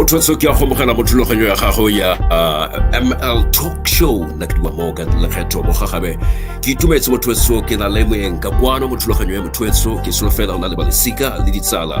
motho tso ke ya go mogela mo thulaganyo ya gago ya uh, ml talk show nna ke duma morgan lekgetho mo gagabe ke itumetse motho tso ke na le moeng ka kwano mo thulaganyo ya motho tso ke selo fela o na le balesika le ditsala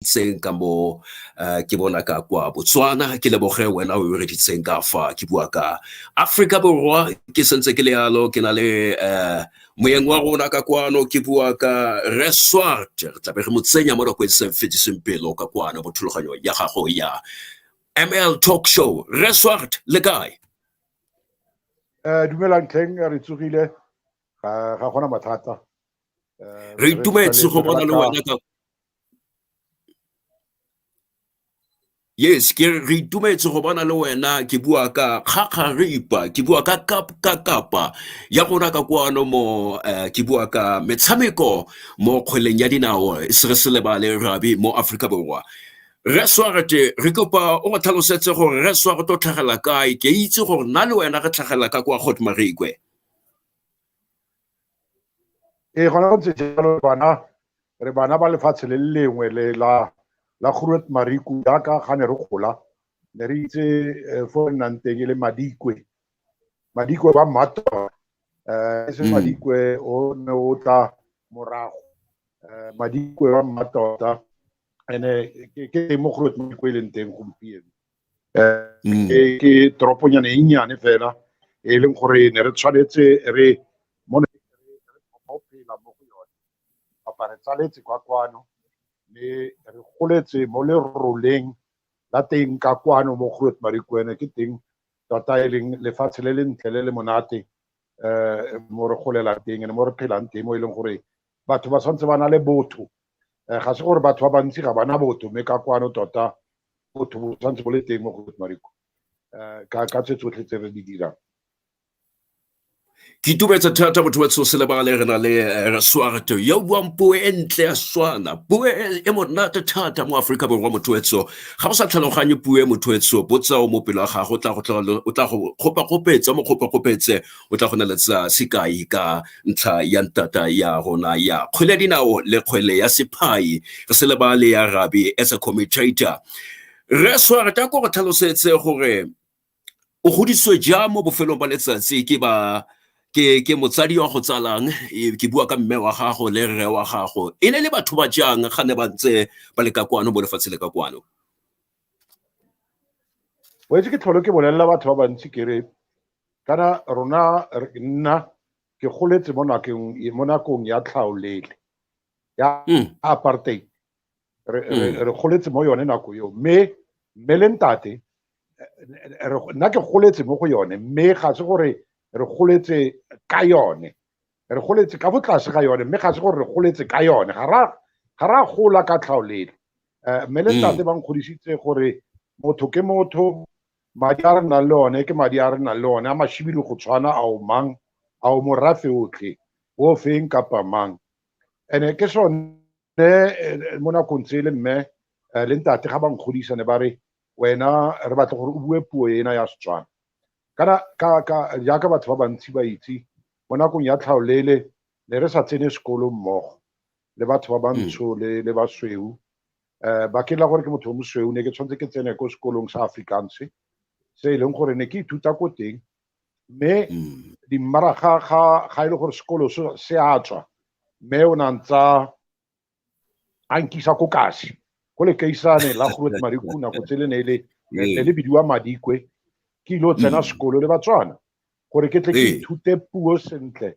itseng ka mo eh, ke bona ka kwa botswana ke leboge wena o reditseng ka fa ke bua ka aforika borwa ke sentse ke le yalo ke na le um moyeng wa rona ka kwano ke bua ka resort re tlabe re mo tsenya mo nakong e seng fediseng pelo ka kwano mo thulaganyong ya gago ya ml talk show resort le kae um dumelang tlheng re tsogile ga gona mathata eh, re itumetse go bona le wena ka Yes, ke re itumetse go bona le wena ke bua ka kgakgaripa, ke bua ka ka kapa ya rona ka kwano mo eh, ke bua ka metshameko mo kgweleng ya dinao se re se lebale rabi mo Afrika Borwa. Re swagete re kopa o go tlhalosetse gore re swa go tlo tlhagela kae ke itse gore nna le wena re tlhagela ka kwa Godmarikwe. ee gona go ntse jalo bana re bana ba lefatshe le lengwe le la la groot mariku jaaka ga ne re gola ne re itse eh, fo re nnang teng e le madikwe madikwe ba mmatwa um eh, e se mm. madikwe o ne o tla morago um madikwe ba mmatota ene ke teng mo groot mariku e leng teng gompieno eh, mm. e ke toroponyane e nnyane fela e leng gore ne re tshwanetse re mo ne go phela mo go yone kapa re tsaletse kwa kwano le re goletse mo leroleng la teng ka kwano mo go Marikwene ke teng tota e leng lefatshe le le ntle le le monate um mo re golelang teng ne mo re phelang teng mo e leng gore batho ba tshwanetse ba na le botho Eh, ga se gore batho ba bantsi ga bana botho mme ka kwano tota botho bo tshwanetse bo le teng mo go mariko eh, ka tse tsotlhe tse re di dirang ke itumetse thata motho wa se lebagale re na le eh, reswarto yo buang puo e ntle ya swana puo e, e monate thata mo aforika borwa motho etso ga bo sa tlhaloganye puo e motho etso botsa o mo pelo ga gago o tla go kgopakgopetse mo kgopakgopetse o tla go neletsa sekai ka ntlha ya ntata ya rona ya kgwele ya dinao le kgwele ya sephai re se lebale ya rabi as a commentator re swareta ko go tlhalosetse gore o godiswe jang mo bofelong ba letsatsi ke ba ke ke motsadi wa go tsalang e, ke bua ka mme wa gago le rre wa gago e ne le batho ba jang ga ne ba ntse ba le ka kwano mo lefatshe le ka kwano o etse ke tlholo ke bolelela batho ba bantsi kere kana rona nna ke goletse mo nakong mo nakong ya tlhaolele ya hmm. apartheid re hmm. re goletse mo yone nako eo mme mme le ntate nna ke goletse mo go yone mme ga se gore re goletse ka yone re goletse ka botlase ga yone mme ga se gore re goletse ka yone ga ra ga ra gola ka tlhaolele eh, mme le hmm. ntate ba nkgodisitse gore motho ke motho madi a re nang le one ke madi a re nang le one a mashibidi go tshwana a o mang a o morafe otlhe o feng kapa mang ene ke sone eh, mo nakong tse le mme eh, le ntate ga ba nkgodisa ne ba re wena re batla gore o bue puo ena ya setswana kana ka ka jaaka batho ba bantsi ba itse mo nakong ya tlhaolele ne re sa tsene sekolo mmogo le batho ba bantsho mm. le le basweu eh, ba ke la gore ke motho o mosweu ne ke tshwanetse ke tsene ko sekolong sa afrikaans se e leng gore ne ke ithuta ko teng mme mm. dimmaraga ga ga e le gore sekolo se a tswa mme o na ntsa a nkisa ko kasi go le kaisane la groot mariku nako tse le ne le ne le bidiwa madikwe ke ile o tsena mm. sekolo le batswana gore ke tle ke ithute puo sentle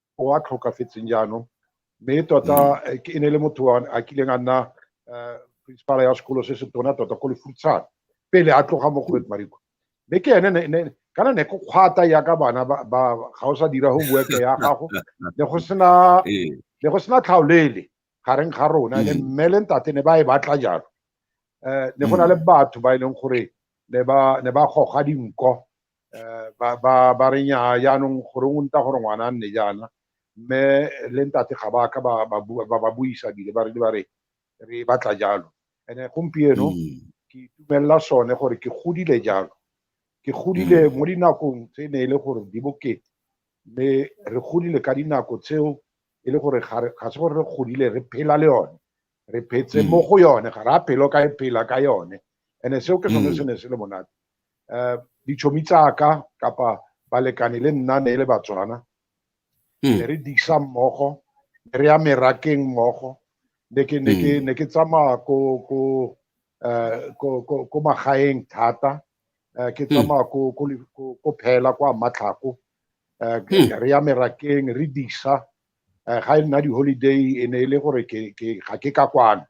o a tlhokafetseng jaanong mme tota mm. eh, e ne le motho a kileng a nna eh, principala ya sekolo se se tona tota ko lefutshane pele a tloga mo goet mariko mme ke ene kana ne go kgwata ya ka bana ba ga o sa dira go buete ya gago ne go sena ee. ne go sena tlhaolele gareng ga rona le mm. mme le ntate ne ba e batla jalo um ne go na le mm. batho ba e leng gore ne ba goga dinko Eh, ba ba ba re nya yaanong gore o nta gore ngwana a nne jaana mme le ntate ga ba ka ba ba buisa bile ba re ba re re batla jalo ene gompieno mm. ke itumelela sone gore ke godile jalo ke godile mm. mo dinakong tse ne e le gore di bokete mme re godile ka dinako tseo e le gore ga se gore re godile re phela le yone re phetse mm. mo go yone ga ra phelo ka e phela ka yone ene seo ke sone mm. se ne se le monate um ditšhomi tsaka kapa balekane le nna ne e le batswana mm. ne re disa mmogo ne re ya merakeng mmogo ne ke tsamaya ko ko um ko magaeng thata um ke tsamaya ko phela kwa matlhako um re ya merakeng re disa eh, ga e nna di-holiday e ne e le gore ga ke ka kwana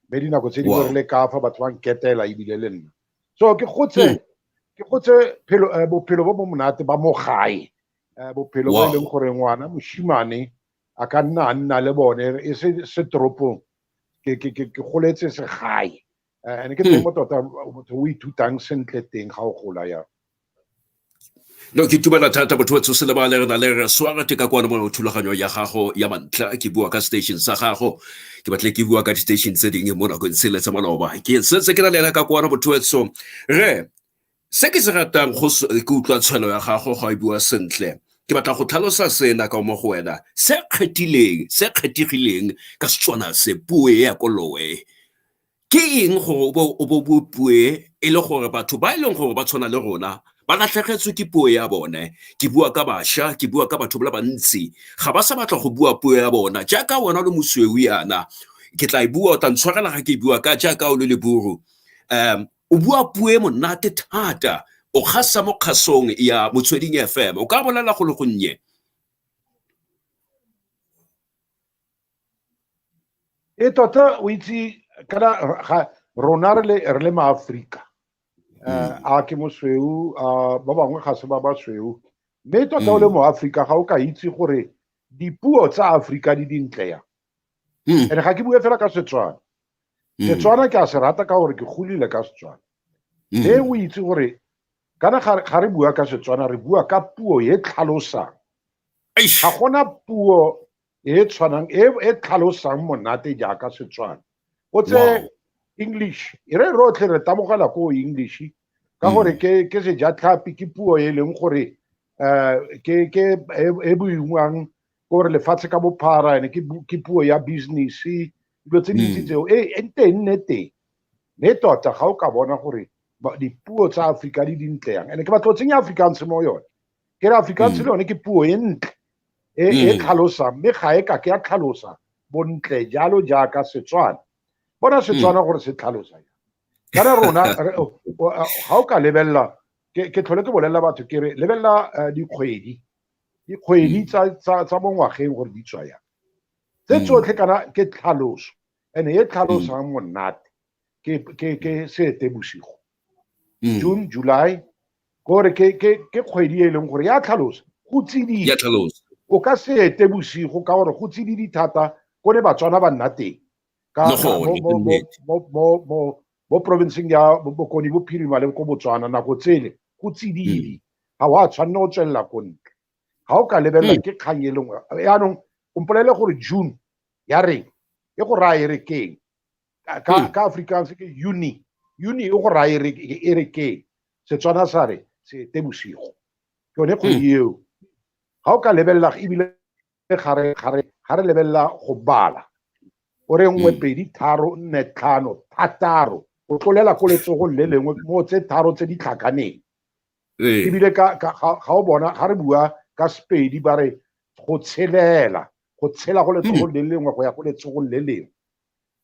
mme dinako tse dingwe re le ka fa batho ba nketela ebile le nna so ke gotse hmm. ke gotse eh, bophelo bo bo monate ba mo gae eh, bophelo bo e leng gore ngwana moshimane a ka nna a nna le bone e se se toropong ke goletse se gae and ke teng mo tota motho o ithutang sentle teng ga o gola ya no ke tumela thata botho ba tshose le ba le rena le re swara teka kwa mo thulaganyo ya gago ya mantlha ke bua ka station sa gago ke batle ke bua ka di-station tse dingwe mo nakong se le tsa maloba ke setse ke na le ena ka kwana botho etso re Se ke se ratang go ke utlwa tshwelo ya gago ga e bua sentle ke batla go tlhalosa sena ka mo go wena se kgethileng se kgethegileng ka setswana se puo e ya koloe ke eng gore o bo bo puo e le gore batho ba e leng gore ba tshwana le rona ba latlhegetswe ke puo ya bone ke bua ka bašwa ke bua ka batho ba le bantsi ga ba sa batla go bua puo ya bona jaaka wena le mosweu yana ke tla e bua o tla ntshwarela ga ke e bua ka jaaka o le leburu um o bua puo e monate thata o kgasa mo kgasong ya motsweding fm o ka bolela go le gonnye e tota o itse kana rona re le maaforika um eh, hmm. a ke mosweu a ba bangwe ga se ba basweu mme tota o le hmm. moaforika ga o ka itse gore dipuo tsa aforika di dintle yang hmm. and ga ke bue fela ka setswana hmm. setswana ke a se rata ka gore ke golile ka setswana hmm. e o itse gore kana ga re bua ka setswana re bua ka puo e tlhalosang ga gona puo e tshwanang e, e tlhalosang monate jaaka setswana o tse english e re rotlhe re tabogela ko english ka gore ke ke sejatlhapi ke puo e leng gore um ke ke e, e boingwang gore lefatshe ka bophara ene ke puo ya business dilo tse dintsi hmm. tseo e, e nte e nne teng mme tota ga o ka bona gore dipuo tsa aforika di dintle yang ene ke batlo tsenya afrikaans mo yone ke re afrikaans hmm. le yone ke puo e ntle e, e hmm. tlhalosang mme ga e ka ke ya tlhalosa bontle jalo jaaka setswana bona setswana gore se tlhalosa kana rona ga o ka lebelela ke tlhole ke bolelela batho ke re lebelela eh, dikgwedi dikgwedi mm. tsa mo ngwageng gore di tswa yang tse mm. tsotlhe kana ke tlhaloso and e tlhalosang mm. monate ke seete bosigo june july kore ke kgwedi e leng gore ya tlhalosa go tsididi o ka seete bosigo ka gore go tsididi thata ko ne batswana ba nna teng mo porofenseng ya bokoni bophirima le ko botswana nako tsele go tsididi mm. ga o a tshwanne go tswelela ko ntle ga o ka lebelela mm. ke kgang e lengwe yaanong o mpolele gore june ya reng e go raya e re keng ka mm. afrikaans ke uni uni e go raya e re keng setswana sa re se te bosigo ke yone kgwedi eo ga o ka lebelela ebile ga re ga re ga re lebelela go bala o re nngwe mm. pedi tharo nne tlhano thataro o tlolela ko letsogong le lengwe mo tse tharo tse di tlhakaneng ee. ebile ga o bona ga re bua ka sepedi ba re go tshelela go tshela go letsogong le lengwe go ya go letsogong le lengwe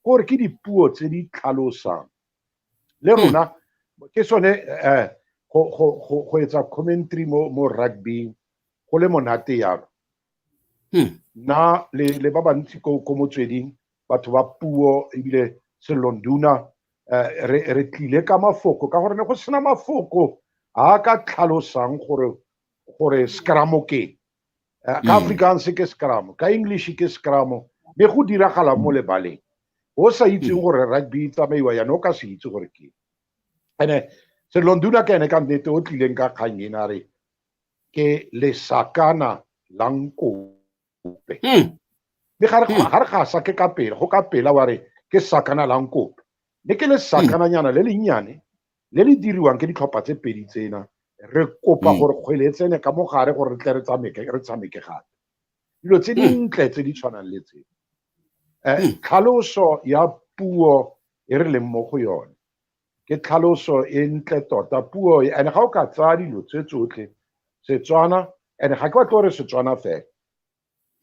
gore ke dipuo tse di tlhalosang le mm. rona ke sone um go etsa commentary mo rugbyng go le monate yalo hmm. nna le ba bantsi ko motsweding batho ba puo ebile selonduna eh, re tlile ka mafoko ka gore ne go sena mafoko a ka tlhalosang gore gore scramo ke eh, ka hmm. afrikaans ke scramo ka english ke scramo mme go diragala mo lebaleng o sa itseng hmm. gore rugby e tsamaiwa yana o ka se itse gore ke ene selonduna ka ene ka nnete o tlileng ka kgang ena re ke lesakana la nkope hmm. mme ga re hmm. ga sa ke ka pela go ka pela wa re ke sakana la nkope mme ke lesakananyana le lennyane le le diriwang ke ditlhopha tse pedi tsena re kopa gore kgwele e tsene ka mogare gore re tle re tshameke re tshameke gape dilo tse dintle tse di tshwanang le tse eh, tlhaloso ya puo e re leng mo go yone ke tlhaloso e ntle tota puo e and ga o ka tsaya dilo tse tsotlhe setswana and ga ke batle gore setswana fela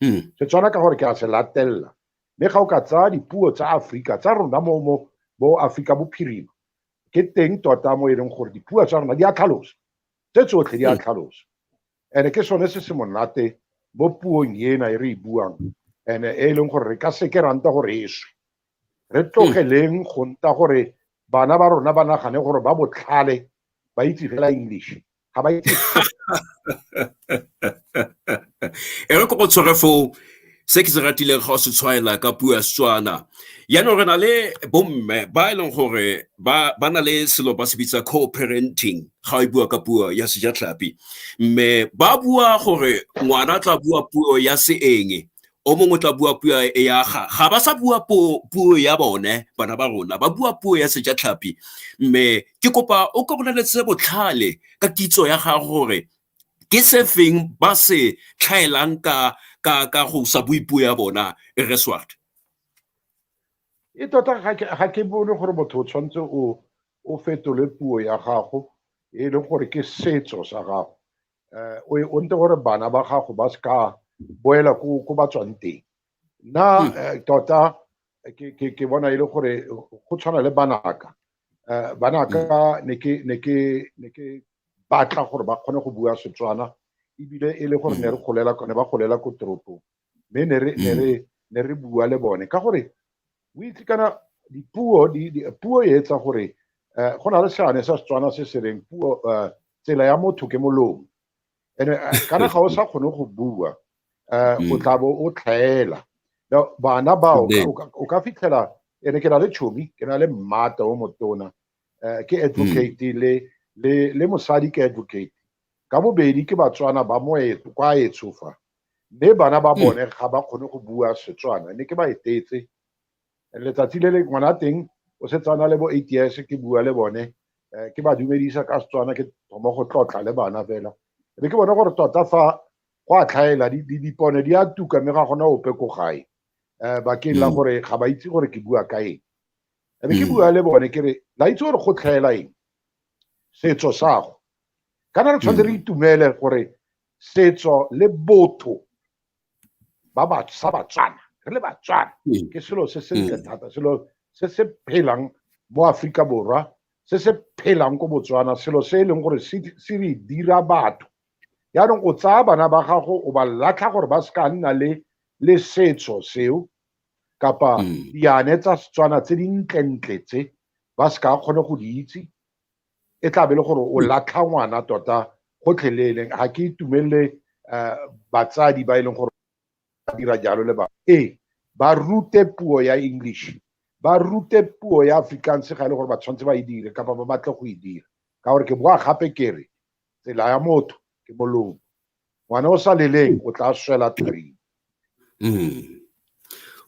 hmm. setswana ka gore ke a se latelela mme ga o ka tsaya dipuo tsa aforika tsa rona mo mo bo aforika bophirima ke teng tota mo e leng gore dipuo tsa rona di a tlhalosa tse tsotlhe di a hmm. tlhalosa and ke sone se se monate mo puong ena e re e buang and e leng gore re ka seke ranta gore e swe re tlogeleng go nta gore bana ba rona ba nagane gore ba botlhale ba itse fela english ga ba itse e re ko go tshwere foo se ke se ratileng ga o se tshwaela ka puo ya setswana yaanong re na le bomme ba e leng gore ba na le selo ba se bitsa co-parenting ga o e bua ka puo ya sejatlhapi mme ba bua gore ngwana tla bua puo ya seeng o mongwe o tla bua puo ya ga ga ba sa bua puo ya bone bana ba rona ba bua puo ya sejatlhapi mme ke kopa o ka boleletse botlhale ka kitso ya ga gore ke se feng ba se tlhaelang ka ka ka go sa bue puo ya bona e re swart e tota ga ke bone gore motho o tshwanetse o o fetole puo ya gago e le gore ke setso sa gago eh, o o nte gore bana ba gago ba se ka boela ko ko ba tswang teng nna hmm. eh, tota eh, ke ke ke bona ile e gore go tshwana le banaka eh, banaka hmm. ne ke ne ke ne ke batla gore ba kgone go bua Setswana ebile e le gore ne re hmm. golela ne ba golela ko toropong mme ne re ne re ne re bua le bone ka gore o itse kana dipuo di, di puo e etsa gore uh, go na le seane sa setswana se se reng puo uh, tsela ya motho ke molomo and uh, kana ga o sa kgone go bua uh, o tla bo o tlhaela bana bao o ka fitlhela ene ke na le tšhomi ke na le mmata o motona uh, ke advocate le le le mosadi ke advocate ka bobedi ke batswana ba moetso kwa etshofa mme bana ba hmm. bone ga ba kgone go bua setswana ne ke ba etetse letsatsi le le ngwana teng o setsana le bo eight years ke bua le bone eh, ke ba dumedisa ka setswana ke thoma go tlotla le bana fela be ke bone gore tota fa go a tlhaela dipone di a tuka mme ga gona ope ko gae um bakeng la hmm. gore ga ba itse gore ke bua ka eng e be ke hmm. bua le bone ke re la itse gore go tlhaela eng setso sago kana re tshwanetse re itumele gore setso le botho ba ba sa batswana re le batswana mm. ke selo se se ntle mm. thata selo se se phelang mo aforika borwa se se phelang ko botswana selo se e leng gore se re dira batho yaanong o tsaya bana ba gago o ba latlha gore ba se ka nna le le setso seo kapa mm. diane tsa setswana tse dintlentle tse ba se ka kgone go di itse e tla be le gore o latlha ngwana tota gotlhelele ga ke itumelele um batsadi ba e leng gore ba dira jalo le bana ee ba rute puo ya english ba rute puo ya afrikaans ga e le gore ba tshwanetse ba e dire kapa ba batle go e dira ka gore ke boa gape kere tsela ya motho ke molomo ngwana o sa leleng o tla swela tharing mm.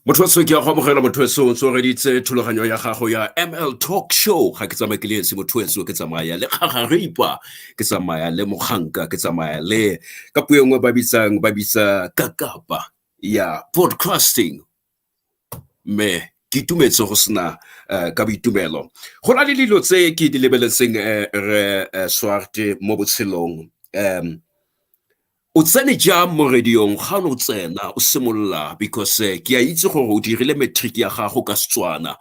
motho se ke ya go amogela motho se o tsoreditse thulaganyo ya gago ya ml talk show ga ke tsamaya ke le esi motho se ke tsamaya le gagaripa ke tsamaya le moganka ke tsamaya le ka puo e nngwe ba bitsang ba bitsa kakapa ya podcasting Mme, Ke itumetse go sena eh, ka boitumelo. Go na le dilo tse ke di lebeletseng eh, re eh, Swarte mo botshelong. Um, o tsene jang mo radiong ga ne o tsena o simolola because eh, ke a itse gore o dirile matric ya gago ka Setswana.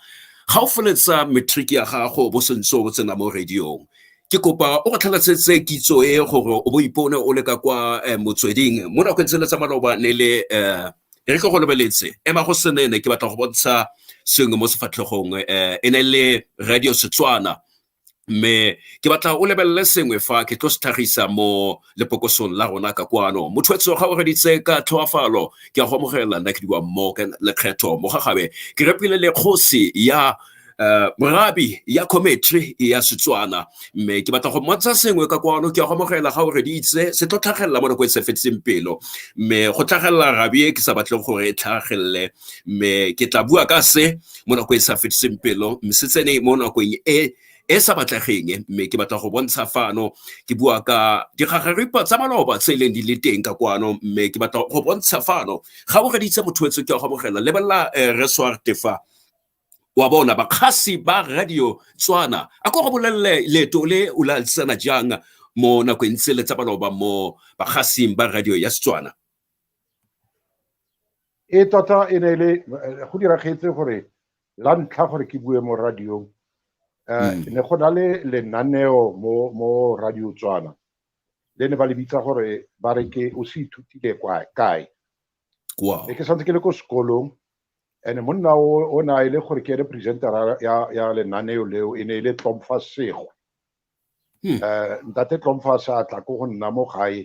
Ga o feletsa matric ya gago bo sentse o tsena mo radiong. Ke kopa o re tlhalosetse kitso e gore o bo ipone o le ka kwa eh, motsweding mo nakong tsele tsa maloba ne le eh, e re tlo go lebeletse ema go senene ke batla go bontsha sengwe mo sefatlhegong um e ne le radio setswana mme ke batla o lebelele sengwe fa ke tlo se tlhagisa mo lepokosong la rona ka kwano motho etso ga o reditse ka tlhoafalo ke a go amogela nna ke diwa mo lekgetho mo gagabe ke repile le kgosi ya um morabi ya commentary ya setswana mme ke batla go mmontsha sengwe ka kwano ke ya go amogela ga o reditse se tlo tlhagelela mo nako e se fetseng pelo mme go tlhagelela rabi e ke sa batleng gore e tlhagelele mme ke tla bua ka se mo nako e sa fetseng pelo mme se tsene mo nakong e e sa batlegeng mme ke batla go bontsha fano ke bua ka digagaripa tsa maloba tse e leng di le teng ka kwano mme ke batla go bontsha fano ga o reditse motho etse ke ya go amogela lebelela um resoarte fa wa bona bakgasi ba radio tswana a ko go bolelele leeto le o le alisana jang mo nakong tse le tsa baloba mo bagasing ba radio ya setswana e tota e ne le eh, go diragetse gore la ntlha gore ke bue mo radiong eh, hmm. ne go na le lenaneo mo mo radio tswana le ne ba le bitsa gore ba re ke o se ithutile kae ne ke santse ke le ko sekolong ene monna o ne a e le gore ke ene presentera ya lenaneo leo e ne e le tlomfa segwe um hmm. eh, ntate tlomfa sa tla ko go nna mo gae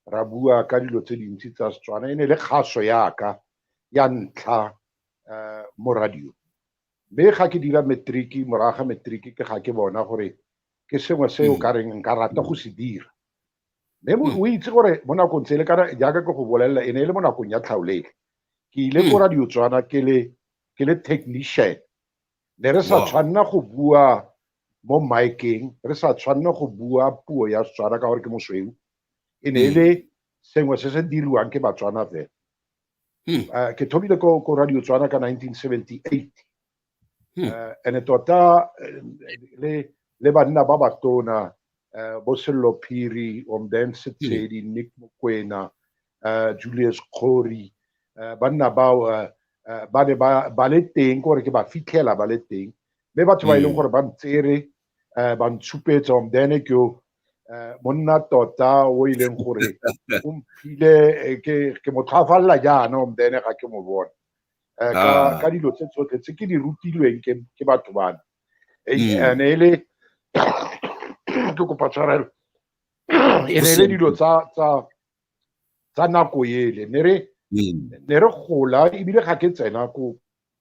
ra bua ka dilo tse dintsi tsa setswana e ne e le kgaso yaka ya ntlha um mo radio mme ga ke dira matriki moraga matriki ke ga ke bona gore ke sengwe se o hmm. ka reng nka rata go se dira mme hmm. o itse gore mo nakong tsele kana jaaka ke go bolelela e ne e le mo nakong ya tlhaolele ke ile ko hmm. radio tswana ke le ke le technician ne re sa tshwanna go bua mo miceng re sa tshwanna go bua puo ya setswana ka gore ke mosweu e ne e le hmm. sengwe se se diriwang ke batswana fela hmm. eh, ke thomile ko radio tswana ka 1978 hmm. eh, and-e tota eh, le le banna ba batona uh, bo sello phiri omdense hmm. tshedi hmm. nick mokwena uh, julius khori uh, banna bao uh, uh, ba ne ba le teng gore ke ba fitlhela ba le teng mme batho ba e leng hmm. gore ba ntsere uh, ba ntshupetsa omdene ke Eh, monna tota o e leng gore o mphile eh, ke mo tlhwafalela jaana omdene ga ke mo bone eh, ka, ah. ka dilo tse tsotlhe tse ke di rutilweng ke, ke batho bana e mm. ne e le ke kopa tshwarelo e ne e le dilo tsa tsa tsa nako ele ne re mm. ne re gola ebile ga ke tsena ko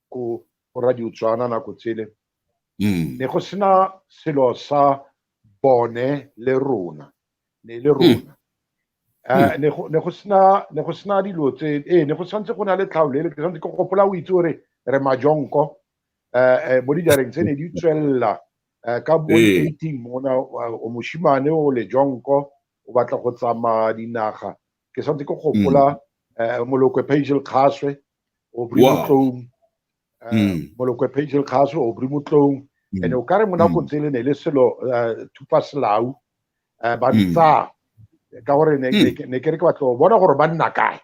ko radio tswana nako tsele mm. ne go sena selo sa bone le rona ne e le hmm. rona eh, hmm. ne go sena ne go sena dilo tse ee ne go tshwanetse go na le tlhaolo ele ke tshwanetse ke gopola o itse gore re majonko um mo dijareng tse ne di tswelela ka bo eighteen mona o moshimane o le jonko o batla go tsamaya dinaga ke tshwanetse ke gopola um molokwe pagel kgaswe o brimotlong mm. molokwe pagel kgaso o bri motlong mm. and o kare mo nakong mm. tsele ne le selo eh, thupa selau eh, ba ntsa mm. ka gore ne ke re ke batlo bona gore ba nna kae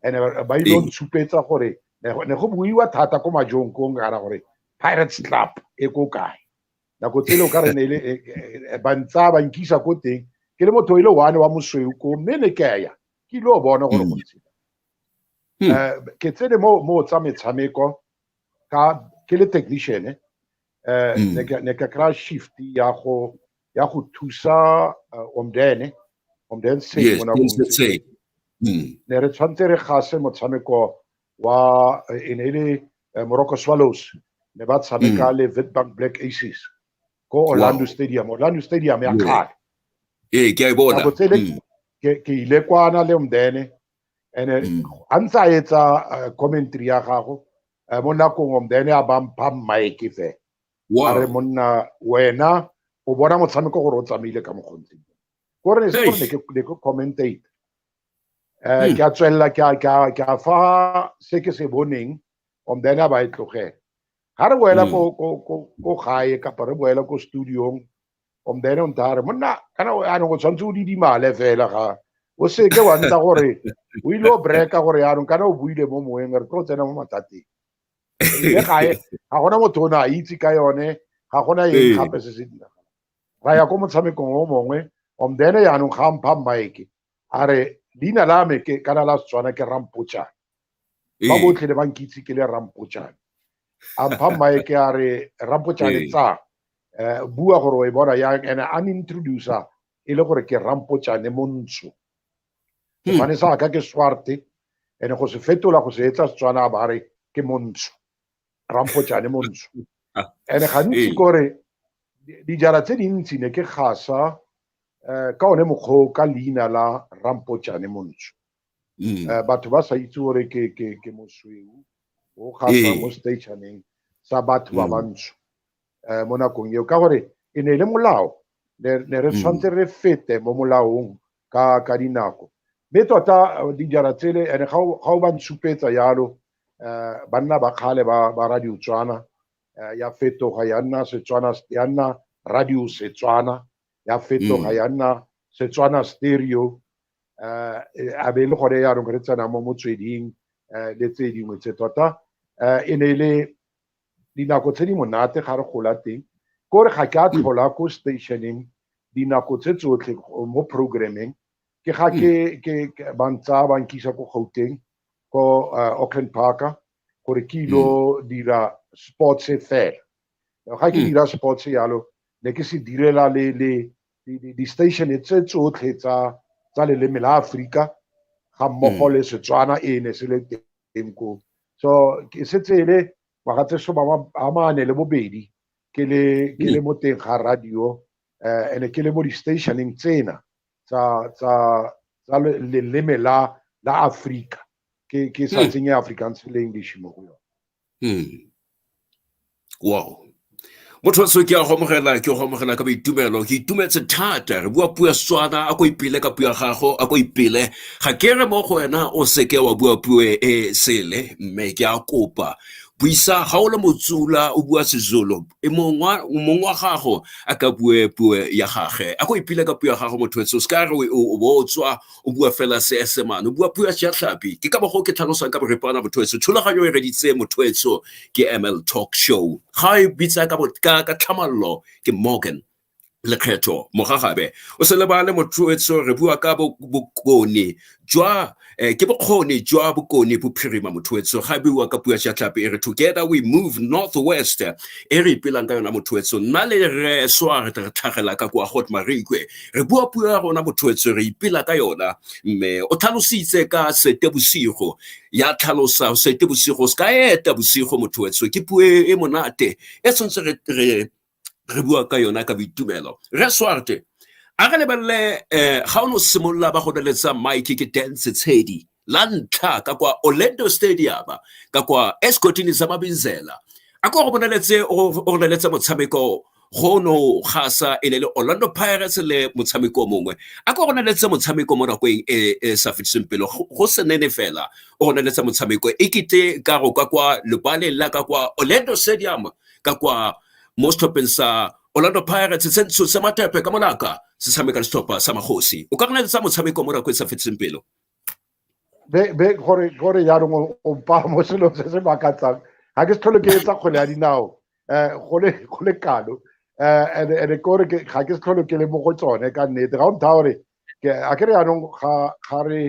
and ba ile go ntshupetsa gore ne go buiwa thata ko majong ko nkara gore pirates club e ko kae nako tsele o ka re ne le e, e, e, ba ntsa ba nkisa ko teng ke le motho ile one wa mosweu ko mme ne ke ya ke ile o bona gore go ntse Hmm. Eh, ke tsene mo mo tsa metshameko ka ke le technician eh hmm. ne ke ne ke kra shift ya go ya go thusa eh, omdene omdene se yes, mona se hmm. ne re tshwantse re gase motshameko wa eh, ene le eh, Morocco Swallows ne ba tshameka hmm. le Witbank Black Aces ko Orlando wow. Stadium Orlando Stadium ya kgale ee ke a e bona ke ile kwana le omdene and a mm. ntse a etsa uh, commentary ya gago uh, mo nakong then a ba mpha mike fe a re monna wena o bona motshameko gore o tsamaile ka mokgontseng kore ne se gore ne ke commentate um hmm. ke a tswelela ke a fa se ke se boneng om then a ba e tlogela ga re boela hmm. ko gae kapa re boela ko studiong from then on tare monna kana yaanong o tshwanetse o didimale fela ga o seke wa nna gore o ile o breka gore yaanong kana o buile mo moweng re tlo tsena mo mathateng le gae ga gona motho o ne a itse ka yone ga gona eng gape se se diragala ra ya ko motshamekong o mongwe om then yaanong ga mpha mike a re leina la me ke kana la setswana ke rampochane ba botlhe ne ba nkitse ke le rampochane a mpha mmae ke a re rampochane tsa um bua gore o e bona yang and a introducer e le gore ke rampochane montsho hmm. sefane sa ka ke swarte and go se fetola go se etsa setswana ba re ke montsho rampojane mo ntsho and gantsi kore dijara tse dintsi ne ke gasa um ka one mokgwa ka leina la rampojane mo ntsho um batho ba sa itse gore ke mosweu o gasa mo stationeng sa batho ba bantsho um mo nakong eo ka gore e ne e le molao ne re tshwanetse re fete mo molaong ka ka dinako mme tota eh, dijara tsele ene ga o ba ntshupetsa yalo eh, banna ba kgale ba ba radio tswana eh, ya fetoga ya nna setswana ya nna radio setswana ya fetoga mm. ya nna setswana stereo eh a be le gone ya re tsena mo motsweding le tse dingwe tse tota e ne le dinako tse di monate ga re gola teng kore ga ke a tlhola ko stationeng dinako tse tsotlhe mo programming ke ga ke ke ba ntsa ba nkisa ko gauteng ko uh, auckland parker gore ke ilo dira sports fela ga ke dira sports yalo ne ke se direla le le di-station tse tsotlhe tsa tsa leleme la aforika ga mmogo le setswana e ne se le teng teng ko so ke setse e le ngwaga tse soma a mane le bobedi ke le ke le mo teng ga radio eh ene ke le mo di-stationeng tsena tsa tsa tsa le- leleme la la afrika ke ke sa Hmm. tsenye afrikaans le english mo go yone Mm. wow motho se ke a go amogela ke go amogela ka boitumelo ke itumetse thata re bua puo swana a ko ipele ka puo ya gago a ko ipele ga ke re mo go wena o seke wa bua puo e sele mme ke a kopa buisa ga o le motsula o bua sezulu e mong wa gago a ka bue puo ya gage a ko ipile ka puo ya gago motho o se ka re o bo tswa o bua fela seesemane o bua puo ya seatlhapi ke ka bago ke tlhalosang ka borepana bothoetso thulaganyo e reditse mothoetso ke ml talk show ga e bitsa ka tlhamallo ke morgan lekgetho mogagabe o se lebale mothoetso re bua ka bokone jwa eh, ke bokgoni jwa bokone bophirima mothoetso ga bua ka pua shatlhape e re together we move northwest e re ipelang ka yona mothoetso nna le re soa re tlhagela ka kwa hot marikwe re bua puo ya rona bothoetse re ipela ka yona mme o tlhalositse ka sete bosigo ya tlhalosa sete bosigo se ka eta bosigo mothoetse ke puo e, e monate e tshwanetse re, re, re bua ka yona ka boitumelo re swarte a re lebelele um ga o ne o simolola ba go beletsa mike ke dance tshedi la ntlha ka kwa orlando stadium ka kwa escotini sa mabinzela a ko go bonaletse o roneletse motshameko go no gasa e le le orlando pirates le motshameko mongwe a ko roneletse motshameko mo nakong e e sa fetiseng pele go senene fela o roneletse motshameko e kete ka go ka kwa lebaleng la ka kwa orlando stadium ka kwa mo setlhopheng sa orlando pirates se ntsho se matepe ka molaka se tshameka le setlhopha sa magosi o ka roneletse motshameko mo nakong e sa fetiseng pelo be be gore gore jaanong o mpa mo selong se se makatsang ga ke se tlhole ke etsa kgwele ya dinao um go le kalo um eh, and and kore ga ke se tlhole ke le mo go tsone ka nnete ga o ntha gore ke a ke re jaanong ga ga re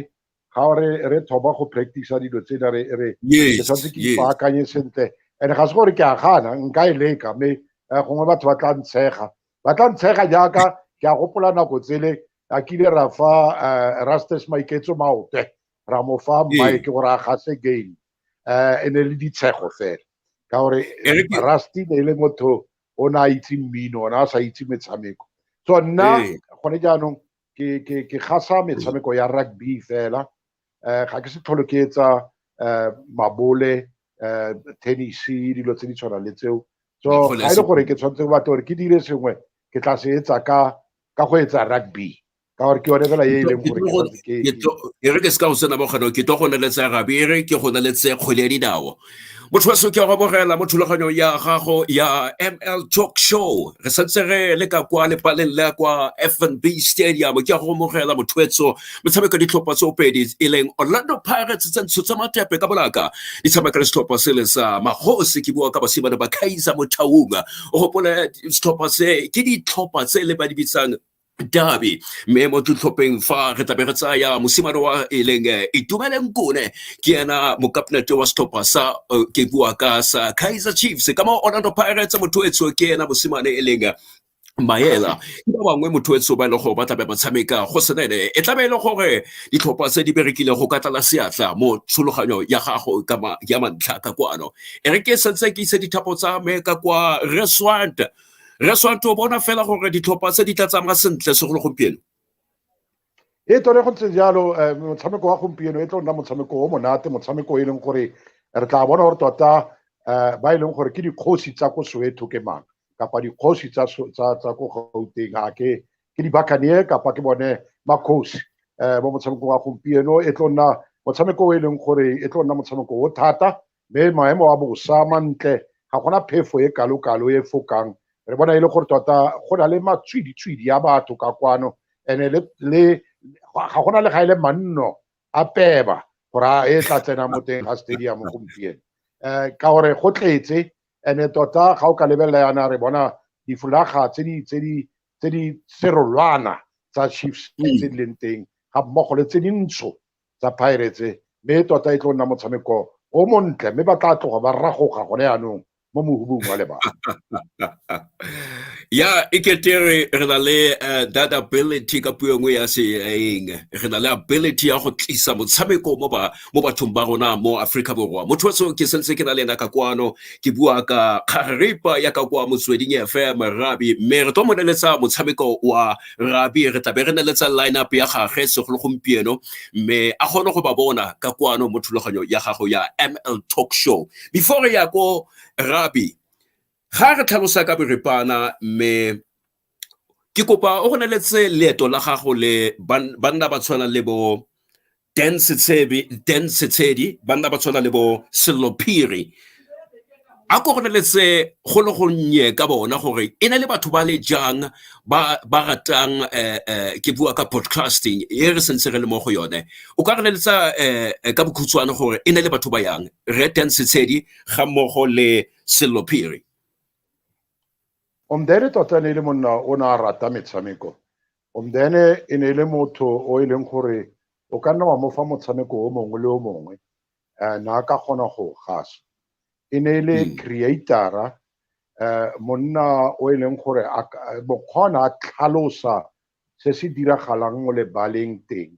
ga re re thoma go practice dilo tse da re re ke tshwanetse ke ipaakanye sentle and ga se gore ke a gana nka e leka mme eh, gongwe batho ba tla ntshega ba tla ntshega jaaka ke a gopola nako tsele a kile ra fa eh, rastes maiketso maope ra mo fa mike gore a gase game um e ne le ditshego fela ka gore rusty ne e le motho o ne a itse mmino ona a sa itse metshameko so nna gone jaanong ke gasa metshameko ya rugby fela um ga ke se tlhole ke etsa um mabole um tennis dilo tse di tshwanang le tseo so ga e le gore ke tshwanetse go batla gore ke dire sengwe ke tla se etsa ka ka go etsa rugby ka gore ke yone fela e e leng gore ke re ke se ka go sena bokgano ke tlo go neletsa rugby e re ke go neletsa kgwele ya dinao motho wa se ke robogela mo thulaganyong ya gago ya ml talk show re santse re le ka kwa lepaleng la kwa fnb stadium ke ya go amogela mothoetso metshameko ditlhopha tse opedi e leng orlando pirates tsa ntsho tsa matepe ka bolaka di tshameka le setlhopha se le sa magosi ke bua ka basimane ba kaiza mo thaunga o gopole setlhopha se ke ditlhopha tse le ba di bitsang dabi mme mo ditlhopheng fa re tlabe re tsaya mosimane wa e leng eh, itumeleng kone ke ena mokapnete wa setlhopha sa eh, ke bua ka sa kaizer chiefs ka mo orlando pirates motho etso ke ena mosimane e leng eh, maela ke ba bangwe motho etso ba e lego ba tlabe ba tshameka go senene e tlabe e le gore ditlhopha tse di berekile go ka tlala seatla mo tshologanyo ya gago ya mantlha ka kwano e re ke setse ke ise dithapo tsa me ka kwa reswant re swantho bona fela gore ditlhopha tse di tla tsamaya sentle segolo gompieno e tone go ntse jalo eh, motshameko wa gompieno e tlo nna motshameko o monate motshameko e leng gore re tla bona gore tota eh, ba e leng gore ke dikgosi tsa ko soweto ke mang kapa dikgosi tsa ko gauteng a ke ke dibakanie kapa ke bone makgosi um mo motshamekong wa gompieno e tlo nna motshameko o e leng gore e tlo nna motshameko o thata mme maemo a bosa mantle ga gona phefo e kalo-kalo e fokang re bona e le gore tota go na le matswidi-tswidi ya batho ka kwano and-e le ga gona le ga e le manno a peba gore a e tla tsena mo teng ga stadium gompieno um ka gore go tletse and-e tota ga o ka lebelela yana re bona difolaga tse di serolwana tsa chiefs tse di leng teng ga mmogo le tse dintsho tsa Pirates mme tota e tlo nna motshameko o montle mme ba tla tloga ba ragoga gone yaanong mo mohubung wa lebaka ya e kete re re na le eh, that ability ka puo e nngwe ya seeng re na le ability ya go tlisa motshameko mo ba mo bathong ba rona mo Africa borwa motho so ke sentse ke na le ena ka kwano ke bua ka kgaripa ya ka kwa motsweding FM rabi mme re tlo moneletsa motshameko wa rabi re tlabe re neletsa lineup ya gage segolo gompieno mme a kgone go ba bona ka kwano mo thulaganyo ya gago ya ml talk show before re ya ko rabi ga re tlhalosa ka boripana mme ke kopa o go neletse leeto la gago le banna ba tshwana le bo Dan Setshedi ba nna ba tshwana le bo Sello Phiri a ko gone letse go le gonnye ka bona gore e na le batho ba le jang ba ba ratang eh, eh, ke bua ka podcasting e re sentse re le mo go yone o ka re leletsa eh, ka bokhutshwane gore e na le batho ba yang re teng setshedi ga mmogo le sello phiri omdere tota ne e le monna o ne a rata metshameko Omdene e ne e le motho o e leng gore o ka nna wa mo fa motshameko o mongwe le o mongwe um na ka kgona go gasa e ne e le hmm. creatara um monna o e leng gore mokgona a tlhalosa se se diragalang mo lebaleng teng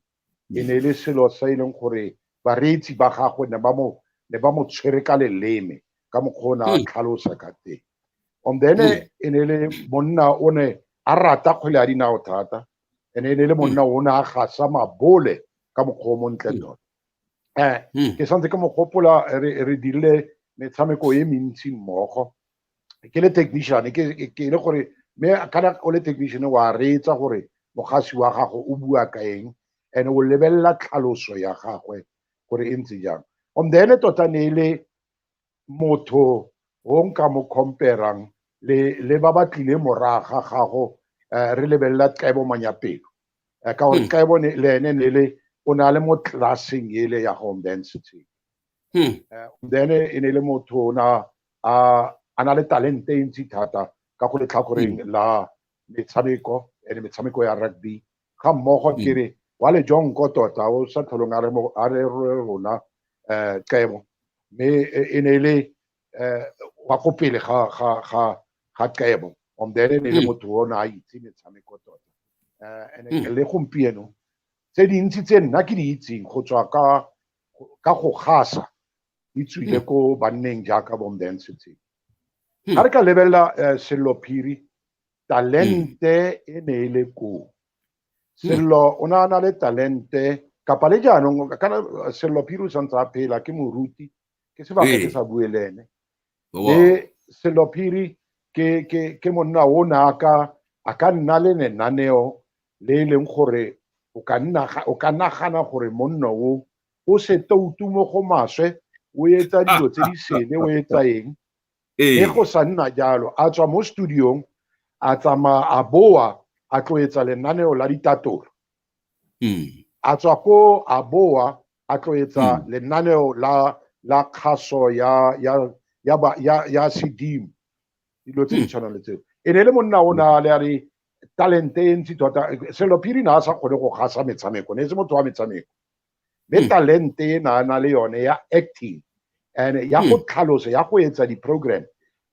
e ne e le selo se e leng gore bareetsi ba gagwe ne ba mo ne ba mo tshwere ka leleme ka mokgwa o ne a tlhalosa ka teng on then e ne le monna o ne a rata kgwele ya dinao thata e ne e le monna o ne a gasa mabole ka mokgwa o montle tota um ke santse ke mo gopola re dirile metshameko e mentsi mmogo ke le technician ke ke le gore me kana o le technician wa reetsa gore mogasi wa gago o bua ka eng and o lebelela tlhaloso ya gagwe gore e ntse jang on the ene tota ne e le motho o nka mo comperang le le ba ba tlile moraga gago eh, re lebelela tlebo manyapelo eh, ka gore tlebo hmm. le ene ne le o na le mo classeng ele ya home density hmm. eh, then e ne e le motho o na a na le talente e ntsi thata ka go letlhakoreng hmm. la metshameko and metshameko ya rugby ga mmogo hmm. kere wa le jong ko tota o sa tlholong a re rona um qemo mme e, e ne e le um wa ko pele ga ga ga ga qemo on then e ne e le motho o ne a itse metshameko tota um and le gompieno tse dintsi tse nna ke di itseng go tswa ka ka go gasa e tswile ko banneng jaaka bombentshe tse Hmm. ga re ka lebelela eh, sello phiri talente e ne e le koo sello o ne a na le talente kapa le jaanong kana eh, sello phiri o santse a phela ke moruti ke sebaka Ee. ke sa bue le ene Wow. le sello phiri ke ke ke monna o ne a ka a ka nna le lenaneo le e leng gore o ka nna o ka nagana gore monna o o seta o tumo go maswe o etsa dilo tse di sele o etsa eng e go sa nna jalo a tswa mo studiong a tsamaya a boa a tlo etsa lenaneo la ditatolo hmm. a tswa ko a boa a tlo etsa hmm. lenaneo la la kgaso ya ya ya ya, ya sedimo dilo tse di hmm. tshwanang le tseo e ne le monna o na le a re talente e ntsi tota selo phiri na a sa kgone go gasa metshameko ne e se motho wa metshameko mme hmm. talente e na na le yone ya acting and ya go hmm. tlhalosa ya go etsa di-program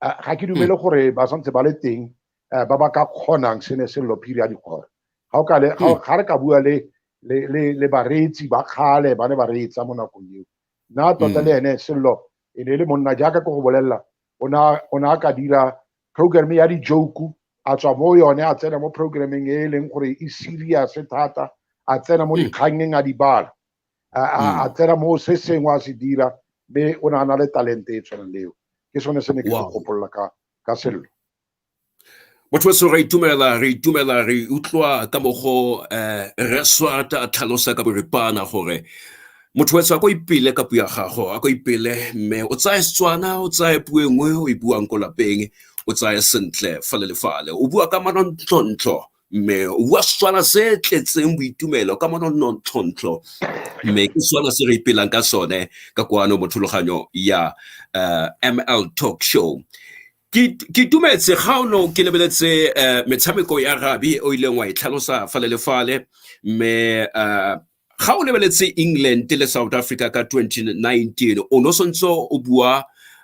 eh, ga ke dumele hmm. gore ba santse ba le teng eh, ba ba ka kgonang se ne sello phiri ya dikgora ga o ka le ga re ka bua le le le le bareetsi ba kgale ba ne ba reetsa mo nakong eo nna tota le ene sello e ne e le monna jaaka ko go bolelela o ne a ka dira program ya di-joke a tswa mo yone a tsena mo programming e e leng gore e serious thata a tsena mo hmm. dikgangeng a di bala hmm. a tsena mo se sengwe a se dira mme o ne a na le talente e tshwanang leo ke sone se ne ke se gopolola ka ka sello motho weso re itumela re itumela re utlwa ka mogo um eh, reswata a tlhalosa ka boripana gore motho wetso a ko ipele ka puo ya gago a ko ipele mme o tsaya setswana o tsaya puo e nngwe o e buang ko lapeng o tsaya sentle fale le fale o bua ka manontlontlho mme o bua setswana se tletseng boitumelo ka manontlontlho mme ke setswana se re ipelang ka sone ka kwano mo thuloganyong ya uh, eh, ml talk show ke itumetse ga o ne o ke lebeletse uh, metshameko ya rabi o ileng wa e tlhalosa fale le fale mme uh, ga o lebeletse england le south africa ka 2019 o no santse o bua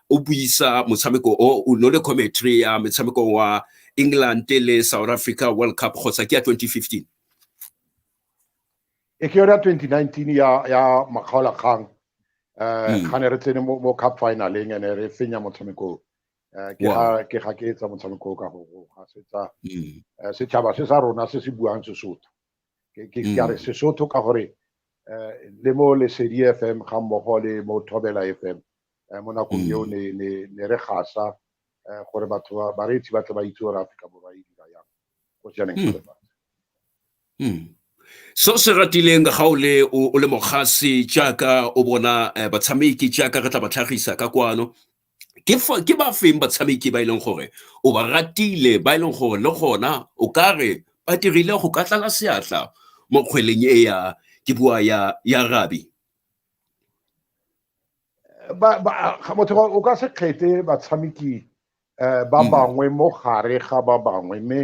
o buisa motshameko o o no le commentary ya metshameko wa england le south africa world cup kgotsa ke ya 2015 e ke yona 2019 ya ya makgaola kgang eh hmm. ga ne re tsene mo cup finaleng ene re fenya motshameko eh, ke ga ke ga ke etsa motshameko ka go ga setsa hmm. eh, setšhaba se sa rona se se buang sesotho ke ka re mm. sesotho ka gore um le mo lesedi f m ga mmogo le mo thobela f m um mo nakong eo mm. ne re gasa um gore batho bareetsi ba tle ba itse gore aforika borwa e dira yang go sianeng mm. so se ratileng ga o le o le mogasi jaaka o bona batshameki jaaka re tla ba tlhagisa ka kwano ke ba feng batshameki ba e leng gore o ba ratile ba e leng gore le gona o ka re ba dirile go ka tlala seatla mo kgweleng e ya ke bua ya ya rabi ba ba motho o ka se kgethe batshameki eh, ba mm. bangwe mo gare ga ba bangwe mme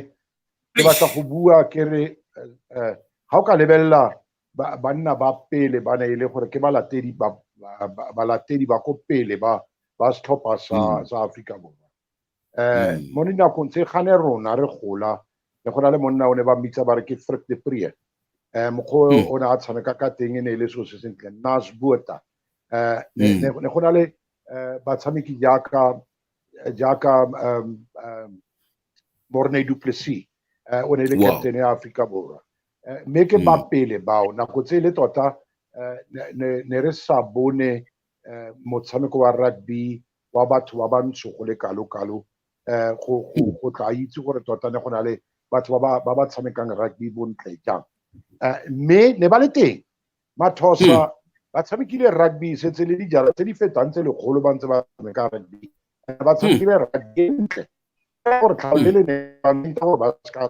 ke batla go bua ke re eh, eh, ga o ka lebelela banna ba pele ba ne e le gore ke balatedi ba balatedi ba ko pele ba ba setlhopha sa mm. sa Africa Borwa eh mm. mo dinakong tse gane rona re gola le go na le monna o ne ba mmitsa ba re ke Frik de Prie eh mokgo mm. o ne a tshameka ka teng e ne e le so se sentle Nas Buerta eh ne go na le eh, batshameki jaaka jaaka Morney Duplessis eh, o ne e le captain ya Africa Borwa eh, mme ke mm. ba pele bao nako tse le tota eh, ne re sa bone eh, motshameko wa rugby wa batho ba bantsho go le kalo-kalo um go tla itse gore tota ne go na le batho ba ba tshamekang rugby bontle jang mme ne ba le teng mathosa hmm. ba tshamekile rugby setse le dijara tse di fetang tse lekgolo ba ntse ba tshameka rugby ba tshamekile hmm. rugby ntle gore tlhao le le ne ba gore ba seka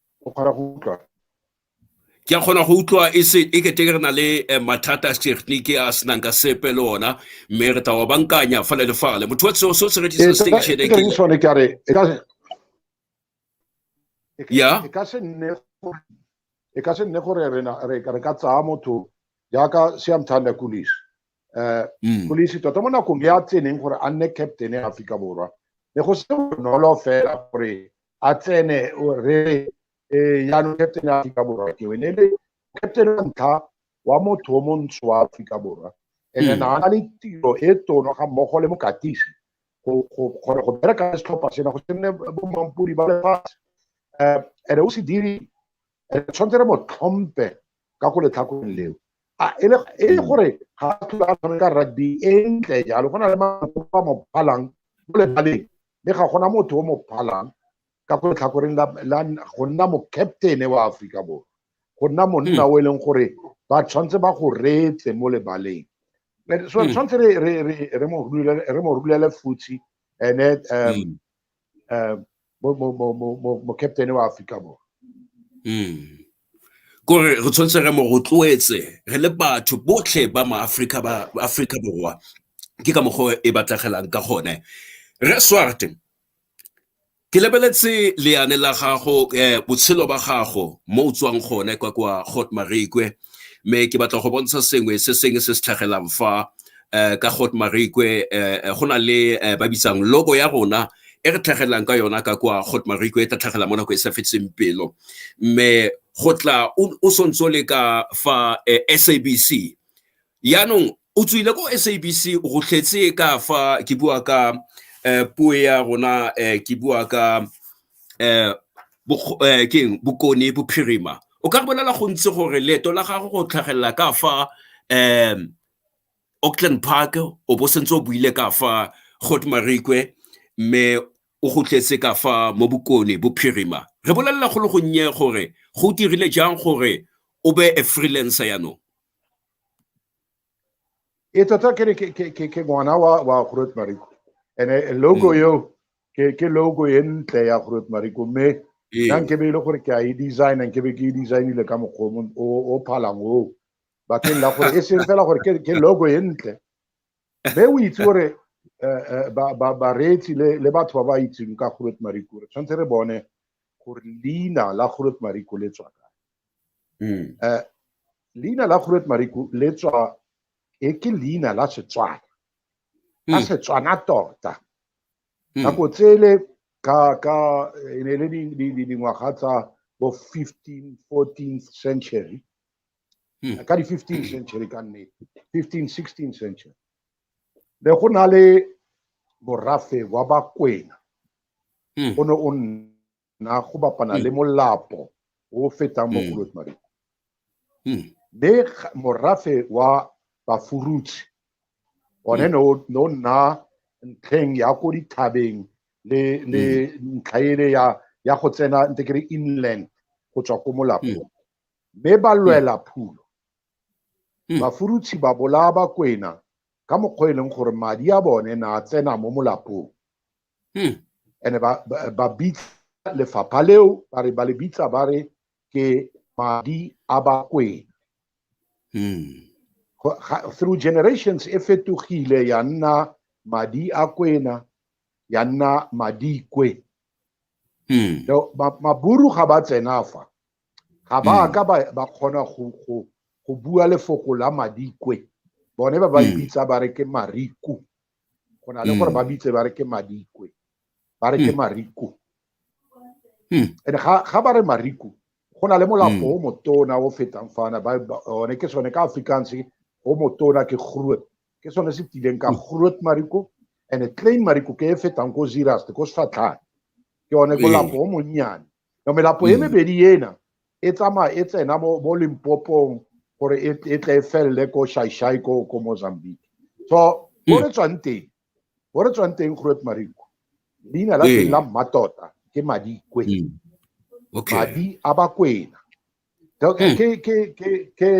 o kgona go utlwa ke a kgona go utlwa e se e kete re na le eh, mathata a technique a senang ka sepe le ona mme re tla wa bankanya fale le fale motho wa seo se se rekisa eh, station e ke sone ke re e ka ya e ka se nne e ka se nne gore re ka tsaya motho jaaka siamthanda kulis um mm. polisi tota mo nakong ya tseneng gore a nne captain ya aforika borwa ne go se bonolo fela gore a tsene re eh, yaanong captain ya aforika borwa ke wene le captain wa ntlha wa motho o montsho wa aforika borwa ene mm. na na le tiro e tono ga mmogo le mokatisi gore go bereka le setlhopha sena go senne bommampodi ba lefatshe um ene o se diri tshwanetse re mo tlhompe ka go letlhakoreng leo a e le e le gore ga a tlhola a tshameka rugby e ntle jalo go na le mafoko a mo phalang mo lebaleng mme ga gona motho o mo phalang ka go letlhakoreng la la go nna mo captain wa Aforika Borwa go nna monna o e leng gore ba tshwanetse ba go reetse mo lebaleng Eh, so Mm. tshwanetse re re re re mo rulele re mo rulele futsi ene um um mo mo mo mo mo mo captain wa Africa Borwa Mm. kore re tshwanetse re mo rotloetse re le batho botlhe ba maaforika ba ba aforika borwa ke ka mokgwa e batlegelang ka gone re swarte ke lebeletse leane la gago um botshelo ba gago mo o tswang gone kwa kwa got marekwe mme ke batla go bontsha sengwe se sengwe se se tlhagelang fa um ka got marikwe um go na le ba bitsang logo ya rona e re tlhagelang ka yona ka kwa got marikwe e tla tlhagelang mo nako e sa fetseng pelo mme go tla o sontse o le ka fa sabc yaanong o tswile ko sabc o gotlhetse ka fa ke bua ka um puo ya rona um ke bua ka um keng bokone bophirima o ka re bolela gontsi gore leeto la gago go tlhagelela ka fa um auckland park o bo sentse o buile ka fa got marikwe mme o gotletse ka fa mo bokone bophirima re bolelela go le gonnye gore go dirile jang gore o be a freelancer yaanong Eto ta kere ke ke ke ke ngwana wa wa Groot Mariko. Ene logo mm. yo ke ke logo e ntle ya Groot Mariko me ee. nang ke be ile gore ke a e design ke be ke e design ile ka mokgomo o o phalang o ba ke la gore e seng fela gore ke ke logo e ntle. Be o itse gore eh, eh, ba ba ba retsi le le batho ba ba itseng ka Groot Mariko. Tshwantse re bone gore leina la Groot Mariko le tswa Mm. Eh, leina la Groot Mariku le tswa e ke leina la Setswana la mm. Setswana tota mm. nako tsele ka ka e ne le dingwaga tsa bo 15 14th century ka di 15 century ka nne 15 16 century le go na le borafe wa bakwena o ne o nna na go bapana mm. le molapo o o fetang mo mm. golot mariko mm. mme morafe wa bafuruthi one mm. no no nna ntlheng ya ko dithabeng le le mm. ntlha ele ya ya go tsena nte kere inland go tswa ko molapong mm. mme ba lwela mm. phulo mm. bafuruthi ba bolaya bakwena ka mokgwa e leng gore madi a bone na tsena mo molapong hmm. and ba ba bitsa lefapha leo ba re ba le bitsa ba re ke madi a bakwena hmm. through generations e fetogile ya nna madi a kwena ya nna madikwe hmm. maburu ga ba tsena fa ga ba hmm. ka ba kgona go bua lefoko la madikwe bone ba ba hmm. ipitsa ba re ke mariku go na le gore ba mm. bitse ba re ke madikwe ba re ke mm. mariko mm. and ga ba re mariko go na le molapo o motona o fetang fana one ke sone ka afrikaans o motona ke groot ke sone se tileng ka groot mariko and klein mariko ke e fetang ko ziraste ko sefatlhane ke one molapo o monnyane no melapo e mebedi ena e tsamaya e tsena mo mo limpopong gore e, e tle e felele ko shaishai ko ko mozambique so mo re tswang teng mo re tswang teng groet mariko leina la teng la mmatota ke madikwe okay. madi a bakwena ke ke ke ke ke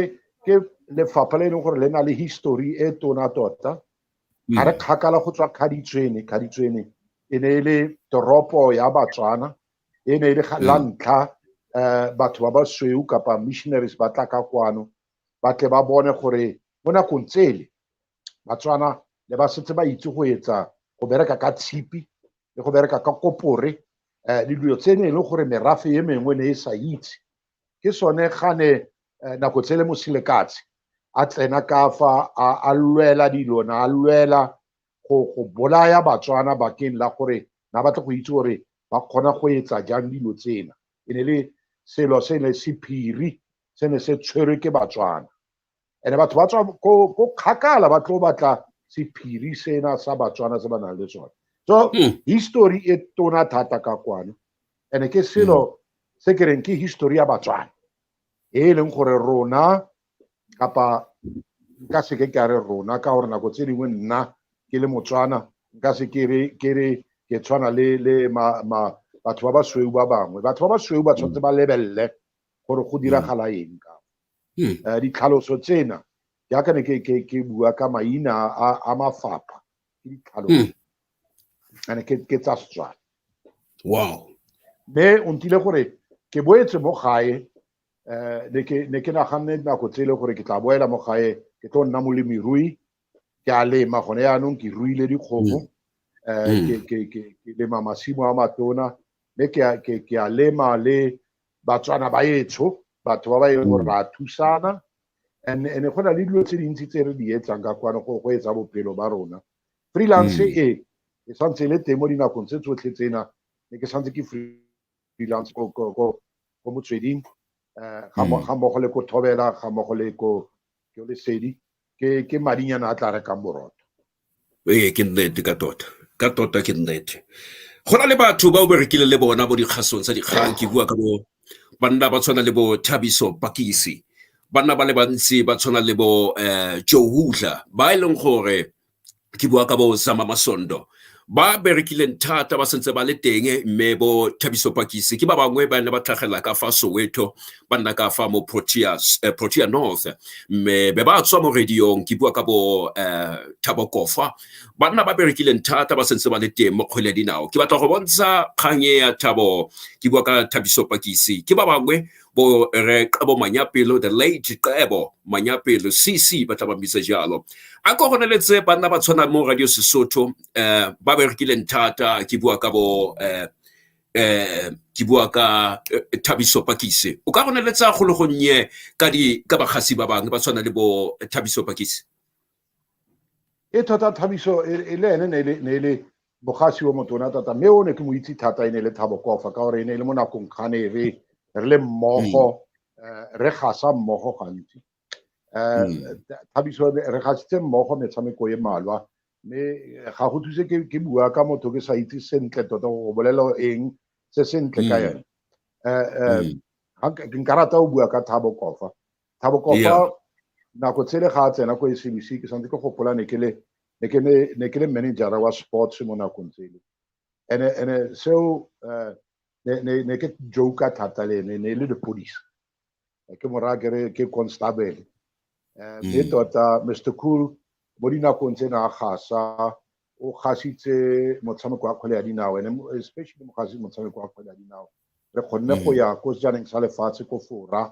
ke lefapha le e leng gore le na le history e tona tota ga re kgakala go tswa kgaditswene kgaditswene e ne e le toropo ya batswana e ne e le la mm. ntlha um batho ba ba sweu kapa missionaries ba tla ka kwano ba tle ba bone gore mo nakong tsele batswana le ba setse ba itse go etsa go bereka ka tshipi le go bereka ka kopore um le dilo tse ne e le gore merafe e mengwe ne e sa itse ke sone ga ne eh, nako tsele mosilekatse a tsena ka fa a lwela dilona a lwela go go bolaya batswana bakeng la gore na batle go itse gore ba kgona go etsa jang dilo tsena e ne le selo se ne se phiri se ne se tshwerwe ke batswana and batho ba tswa ko kgakala ba tlo batla sephiri sena sa batswana se ba nang le sone so hmm. history e tona thata ka kwano and ke selo hmm. se ke reng ke history ya batswana e leng gore rona kapa nka se ke ka re rona ka gore nako tse dingwe nna ke le motswana nka se ke re ke re ke tshwana le le ma, ma batho ba basweu ba bangwe batho ba basweu ba tshwanetse ba lebelele gore go diragala eng ka hmm. eh, ditlhaloso tsena jaaka ne ke bua ka maina a mafapha ke ditlhaloso hmm. ane ke tsa setswana wow mme o ntile gore ke boetse mo gae um ne ke naganne nako tsele gore ke tla boela mo gae ke tlo nna molemirui ke a lema gone yaanong ke ruile dikgomo um mm. eh, mm. ke lema masimo a matona mme ke a lema le batswana ba etsho batho ba ba e gore mm. ra thusana and ene go na le dilo tse dintsi tse re di etsang ka kwane go go etsa bophelo ba rona freelance e e santse le teng mo dinakong tse tsotlhe tsena ne ke santse ke Bilance ko ko ko ko motsweding eh ga mo ga mo go le ko thobela ga mo go le ko ke le sedi ke ke madinyana a tla re ka borotho ee ke nnete ka tota ka tota ke nnete go na le batho ba o berekile le bona bo dikgasong tsa dikgang ke bua ka bo banna ba tshwana le bo thabiso pakisi banna ba le bantsi ba tshwana le bo um joe hudler ba e leng gore ke bua ka bo zama masondo ba berekileng thata ba sentse ba le teng mme bo thabiso pakise ke ba bangwe ba ne ba tlhagelela ka fa soweto ba nna ka fa mo protea eh, protea north mme be ba tswa mo radiong ke bua ka bo eh, thabo kofa ba nna ba berekileng thata ba sentse ba le teng mo kgwele dinao ke batla go bontsha kgang e ya thabo ke bua ka thabiso pakise ke ba bangwe bo re qebo manyapelo the late qebo manyapelo cc ba tla ba bitsa jalo a ko gone le tse banna ba tshwana mo radio sesotho um ba berekileng thata ke bua ka bo um ke bua ka eh, thabiso pakise o ka gone le tsa kgologonye ka di ka bagasi ba bangwe ba tshwana le bo thabiso pakise e thata thabiso e, e le ene ne e le e bogasi wa motona thata mme o ne ke mo itse thata e ne e le thabo kofa ka gore e ne e le mo nakong kgane e re re le mmogo mm. eh, re gasa mmogo gantsi um thabiso re gasitse mmogo metshameko e malwa mme eh, ga go thuse ke bua ka motho ke sa itse sentle tota go bolela eng se sentle ka mm. ene um nka rata o bua ka thabo kofa thabo kofa nako tshele ga a tsena ko SABC ke santse ke gopola ne ke le ne ke ne ne ke le manager wa sports mo nakong tsele ene ene seo eh, ne ne ne ke joke thata le ene ne e le lepodisa Eh, ke mora ke re ke constable Eh, mme Mm. tota mr cool mo dinakong tse na a gasa o gasitse motshameko wa kgwele ya dinao ene mo- especially mo gasi motshameko wa kgwele ya dinao re kgonne go Mm. ya ko sejaneng sa lefatshe ko fora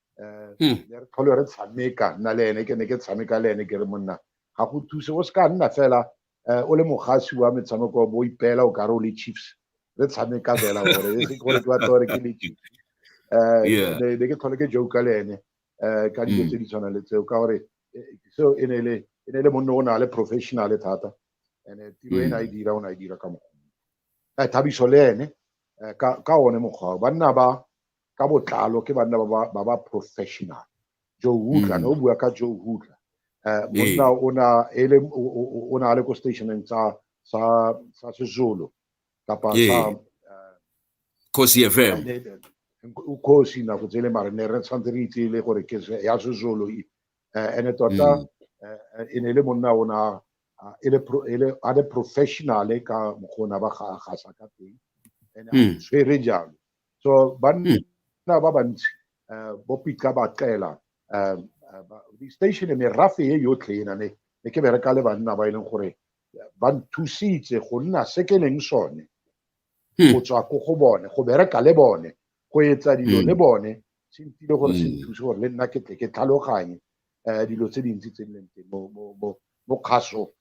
um hmm. ya re tlhole re tshameka nna le ene ke ne ke tshameka le ene ke re monna ga go thuse o se ka nna fela um o le mogasi wa metshameko bo ipeela o kare o le chiefs re tshameka fela gore e se gore ke batla gore ke le chiefs um ne ke tlhole ke joka le ene um ka dilo hmm. tse di tshwanang le tseo ka gore eh, seo e ne e le e ne le monne o na le professionale thata and tiro e ne a e dira o ne a e dira ka mokgwa thabiso le ene ka one mokgwa banna ba ka botlalo ke banna ba ba- ba ba professional joe hutla ne o bua ka joe hutla um monna o na e le o- o o- o ne a le ko stationeng sa sa sa sezulu kapa Ee. sa eh, Khosi FM. ne- ne- o kgosi nako tsele mare ne re tshwanetse re itse le gore ke se- ya sezulu e. Eh, ene tota Mm. eh, eh, e ne e le monna o na a- e le pro- e le- a le professionale ka mokgona ba ga gasa ka teng ene a Mm. tshwere jalo so banna hmm. ba bantsi eh, bo pitla ba qela eh, eh, station merafe e yotlhe ena ne ne ke bereka le banna ba e leng gore ba nthusitse go nna se ke leng sone hmm. go tswa ko go bone go bereka le bone go etsa dilo hmm. le bone se ntile gore se nthuse gore le nna ke tle ke tlhaloganye um dilo tse dintsi tse di leng teng mo kgaso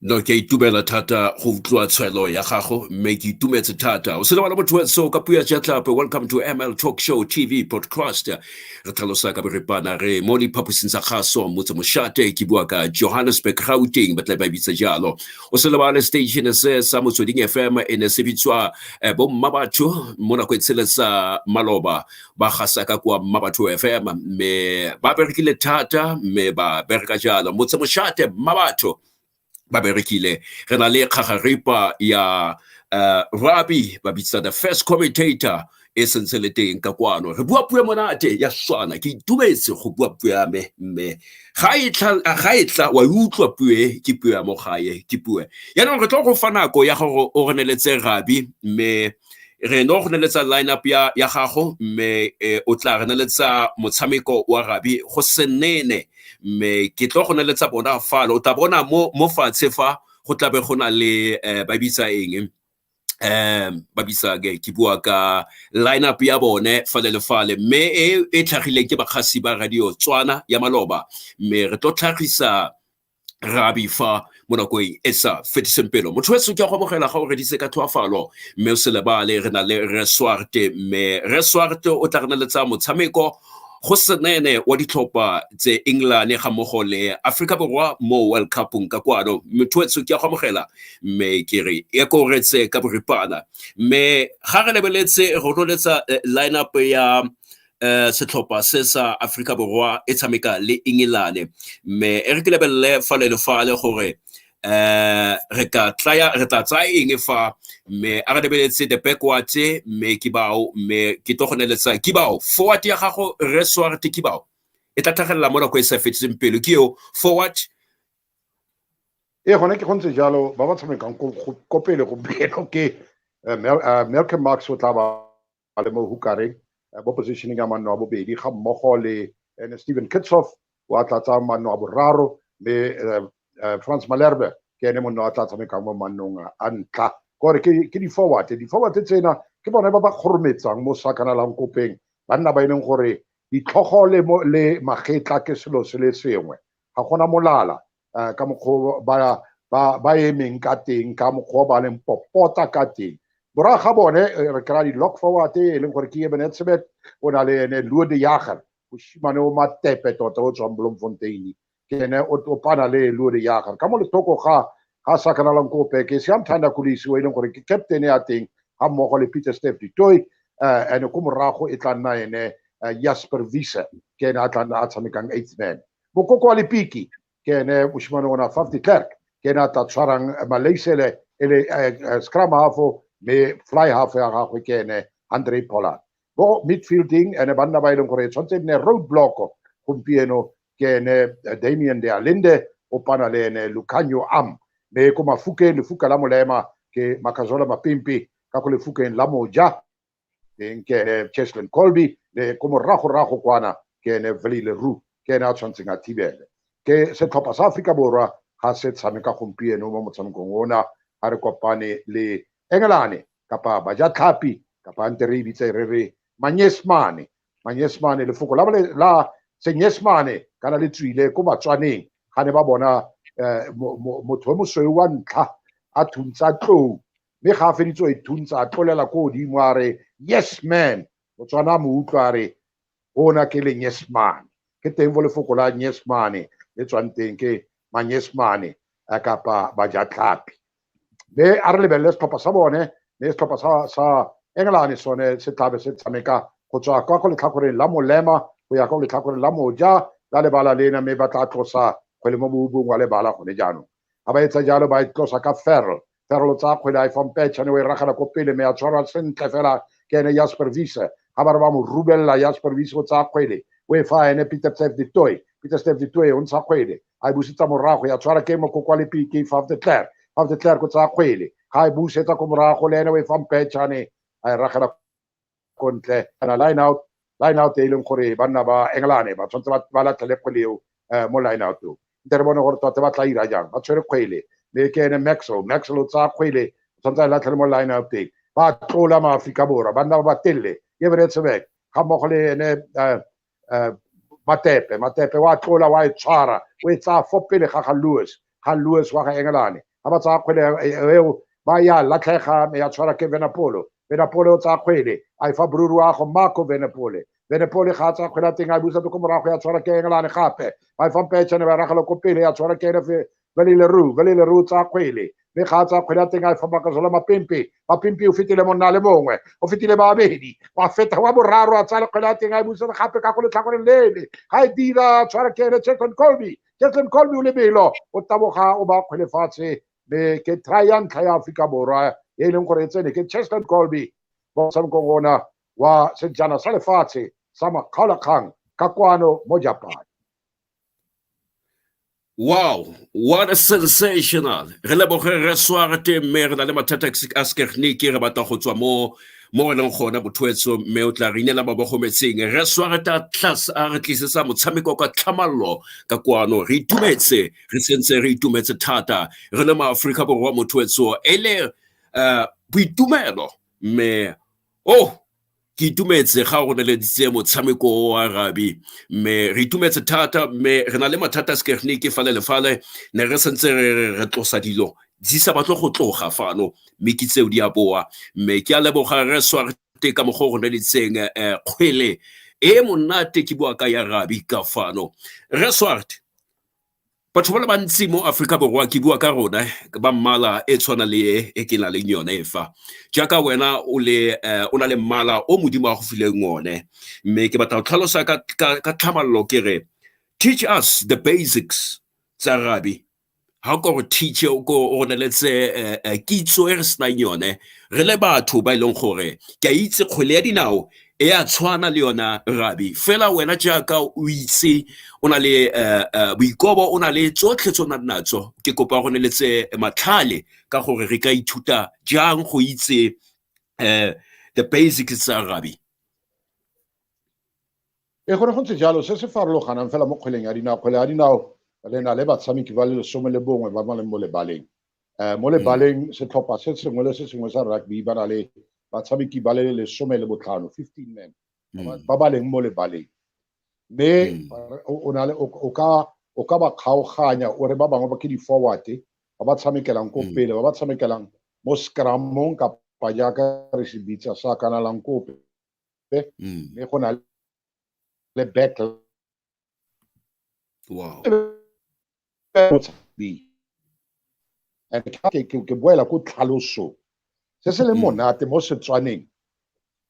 no ke a itumela thata go utlwa tshwelo ya gago mme ke itumetse thata o se lebala motho wetso ka puo ya jatlapa welcome to ml talk show tv podcast re tlhalosa ka boripana re mo diphaposing tsa gaso motse moshate ke bua ka johannesburg gauteng ba tla ba bitsa jalo o se lebale station se sa motsweding fm e ne se bitswa eh, bomma batho mo nako e tsheletsa maloba ba gasa ka kwa mma batho fm mme ba berekile thata mme ba bereka jalo motse moshate mma batho ba berekile re na le kgagaripa ya uh, rabi ba bitsa the first commentator e sentse le teng ka kwano re bua puo monate ya swana ke itumetse go bua puo ya me mme ga e tla wa e utlwa puo e ke puo ya mo gae ke puo yaanong re tlo go fa nako ya gore o reneletse rabi mme re no go neletsa lineup ya ya gago mme eh, o tla re neletsa motshameko wa rabi go senene mme ke tlo go neletsa bona falo o tla bona mo mo fatshe fa go tlabe go na le eh, ba bitsa eng um ba bitsa ke ke bua ka lineup ya bone fale le fale mme e e tlhagileng ke bakgasi ba radio tswana ya maloba mme re tlo tlhagisa re a bifa mo nakong e sa fetiseng pelo motho weso ke a go amogela ga o redise ka tlhoafalo mme o se lebale re na le reswarte mme reswarte o tla re na le tsa motshameko go senene wa ditlhopha tse england ga mmogo le aforika borwa mo world cupong ka kwano motho weso ke a go amogela mme ke re e koretse ka boripana mme ga re lebeletse ronoletsa eh, line up ya um setlhopha se sa aforika borwa e tshameka le engelane mme e re ke lebelele fa le le fale gore um re tla tsaya eng fa mme a re lebeletse the backward mme ke bao mme ke tlo go neletsa ke bao forward ya gago re swarte ke bao e tla tlhagelela mo nako e sa fetseng pelo ke eo forward ee gone ke go ntse jalo ba ba tshamekang ko pele go belo ke eh, eh, malcolm marks o tla ba ba le mo hukareng eh, mo positioning ya manno a bobedi ga mmogo le ene eh, Steven Kitshoff wa tlatsang manno a boraro mme eh, Franz Malherbe ke ene monno a tla tshamekang mo mannong a ntlha kore ke di-forward di-forward tsena ke bone ba ba kgorometsang mo sakanalang kopeng banna ba e leng gore ditlhogo le magetla ke selo se le sengwe ga gona molala eh, ka mokgwa ba ba ba emeng ka teng ka mokgwa ba leng popota ka teng bora ga bone eh, re kry di lock forward e leng gore ke ebene tshebet o na le ene luo de jager mosimane o matepe tota o tswang blomfontein ke ene o topana le luo de jager ka mo letoko ga ga sakanalang kope ke siamthanda kulisi o e leng gore ke captain ya teng ga mmogo le peter step ditoy eh, ene ko morago e tla nna ene eh, jasper visa ke ene a tla nna a tshamekang eighth man Mokoko wa Lepiki ke ene moshimane ona Faf de Klerk ke ene a tla tshwarang eh, Malaysele e le eh, eh, scrum half mme fly half ya gagwe ke ene Andre Pollard bo midfielding ene banna ba e leng gore e tshwanetse nne road block gompieno ke ene Damien de Alinde o pana le ene Lucanio Am mme ko mafukeng lefuka la molema ke Makazola Mapimpi ka ko lefukeng la moja teng ke ene cheslin colby le ko moragorago kwana ke ene valley leroux ke ene a tshwanetseng a thibele ke setlhopha sa aforika borwa ga se tshameka gompieno mo motshamekong ona ga re kopane le engelane kapa bajatlhapi kapa nte re e bitse re re manyesmane manyesmane lefoko la, la senyesmane kana le tswile ko batswaneng ga ne ba bona eh, motho yo mosweu wa ntlha a thuntsa tlou mme ga a feditse o e thuntsa a tlolela ko godimo a re yes man motswana a mo utlwa a re ona ke leng yes man ke teng fo lefoko la yes man le tswang teng ke manyes man a kapa bajatlhapi mme a re lebelele setlhopha sa bone mme setlhopha sa sa engelane sone se tlabe se tshameka go tswa kwa go letlhakoreng la molema go ya kwa letlhakoreng la moja la lebala lena mme ba tla tlosa kgwele mo boubong wa lebala gone jaanong ga ba etsa jalo ba e tlosa ka ferl ferl o tsaya kgwele a e fampetšhane o e ragela ko pele me ya tshwarwa sentle fela ke ene jasper vise ga ba re ba mo rubelela jasper vise o tsaya kgwele o e fa ene peter stef ditoy peter stef ditoy o ntsha kgwele a e busetsa morago ya tshwara ke mokoko wa lepiki faf de claire faf de claire ko tsaya kgwele ga e busetsa ko morago le ene o e fampetšhane a e ragela ko ntle kana line out line out e leng gore banna ba englane ba tshwanetse ba latlhele kgwele eo eh, mo line out o nte re bone gore tota ba tla ira jang ba tshwere kgwele le ke ene maxwell maxwell o tsaya kgwele o tshwanetse a e latlhele mo line out teng ba tlola maaforika borwa banna ba ba telele ke beretshebek ga mmogo le ene eh, uh, matepe matepe wa tlola wa e tshwara o e tsaya fo pele ga ga lewis ga lewis wa ga engelane ga ba tsaya kgwele eo ba ya latlhega me ya tshwara ke venapolo venapole o tsaya kgwele a e fa boruri wa go marco venapole venapole ga a tsaya kgwele a teng a e busa ko morago ya tshwara ke engelane gape ba e fa mpetšhane ba ragelo ko pele ya tshwara ke enefe Valeleroo, Valeleroo tsa kgwele. Mme ga a tsa kgwele a teng a e fa Makazola Mapempe. Mapempe o fetile monna le mongwe. O fetile babedi. Wa feta wa boraro a tsaya kgwele a teng a e busetsa gape ka go letlhakoreng lele. Ga e dira tshwara ke ene Chetlon Colby. Chetlon Colby o lebelo. O taboga o ba kgwele fatshe. Mme ke try ya ntlha ya Aforika Borwa e e leng gore e tsene ke Cheslon Colby mo motshamekong ona wa sejana sa lefatshe sa makgaolakgang ka kwano mo Japan. Wow, what a sensational. Re leboge re sware te mme re na le mathata a sekegniki re batla go tswa mo mo re leng gona bothoetso mme o tla re inela ba bogometseng re sware ta tlase a re tlisetsa motshameko ka tlhamallo ka kwano re itumetse re sentse re itumetse thata re le maaforika borwa mothoetso e le eh, boitumelo mme Oh, ke itumetse ga go neleditse motshameko wa rabi mme re itumetse thata mme re na le mathata a sekegnike fale le fale ne re sentse re re re tlosa dilo di sa batle go tloga fano mme ke tseo di a boa mme ke a leboga re swarte ka mogo go neleditseng um eh, kgwele e monate ke bua ka ya rabi ka fano re swarte Batho ba le bantsi mo Aforika Borwa ke bua ka rona ke ba mmala e tshwana le e e ke na leng yone fa jaaka wena o le o na le mmala o modimo a go fileng one mme ke batla go tlhalosa ka tlhamalalo ke re teach us the basics tsa rabi ga ko gore teacher o ko o neletse kitso e re senang yone re le batho ba e leng gore ke a itse kgwele ya dinao e a tshwana le yona rabi fela wena jaaka o itse o na le eh, eh, boikobo o na le tsotlhe tse o nang natso ke kopa go neletse matlhale ka gore re ka ithuta jang go itse um the basics tsa rabi e gore go ntse jalo se se farologanang fela mo kgweleng ya dinao kgwele ya dinao le na le batshameki ba le lesome le bongwe ba ba leng mo lebaleng um mo lebaleng mm. setlhopha se sengwe le se sengwe sa rugby ba na le batshameki ba le lesome le botlhano fifteen men mm. ba ba leng mo lebaleng mme mm. o na le o ka o ka ba kgaoganya o re ba bangwe ba ke di-forward ba ba tshamekelang ko pele ba ba tshamekelang mo scramong kapa jaaka re se bitsa sa kanalang kope mme go na le back Wow. ke boela ko tlhalosong se se leng mm. monate mo setswaneng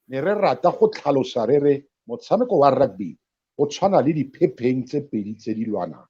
ne re rata go tlhalosa re re motshameko wa rugby o tshwana le diphepheng tse pedi tse di lwanang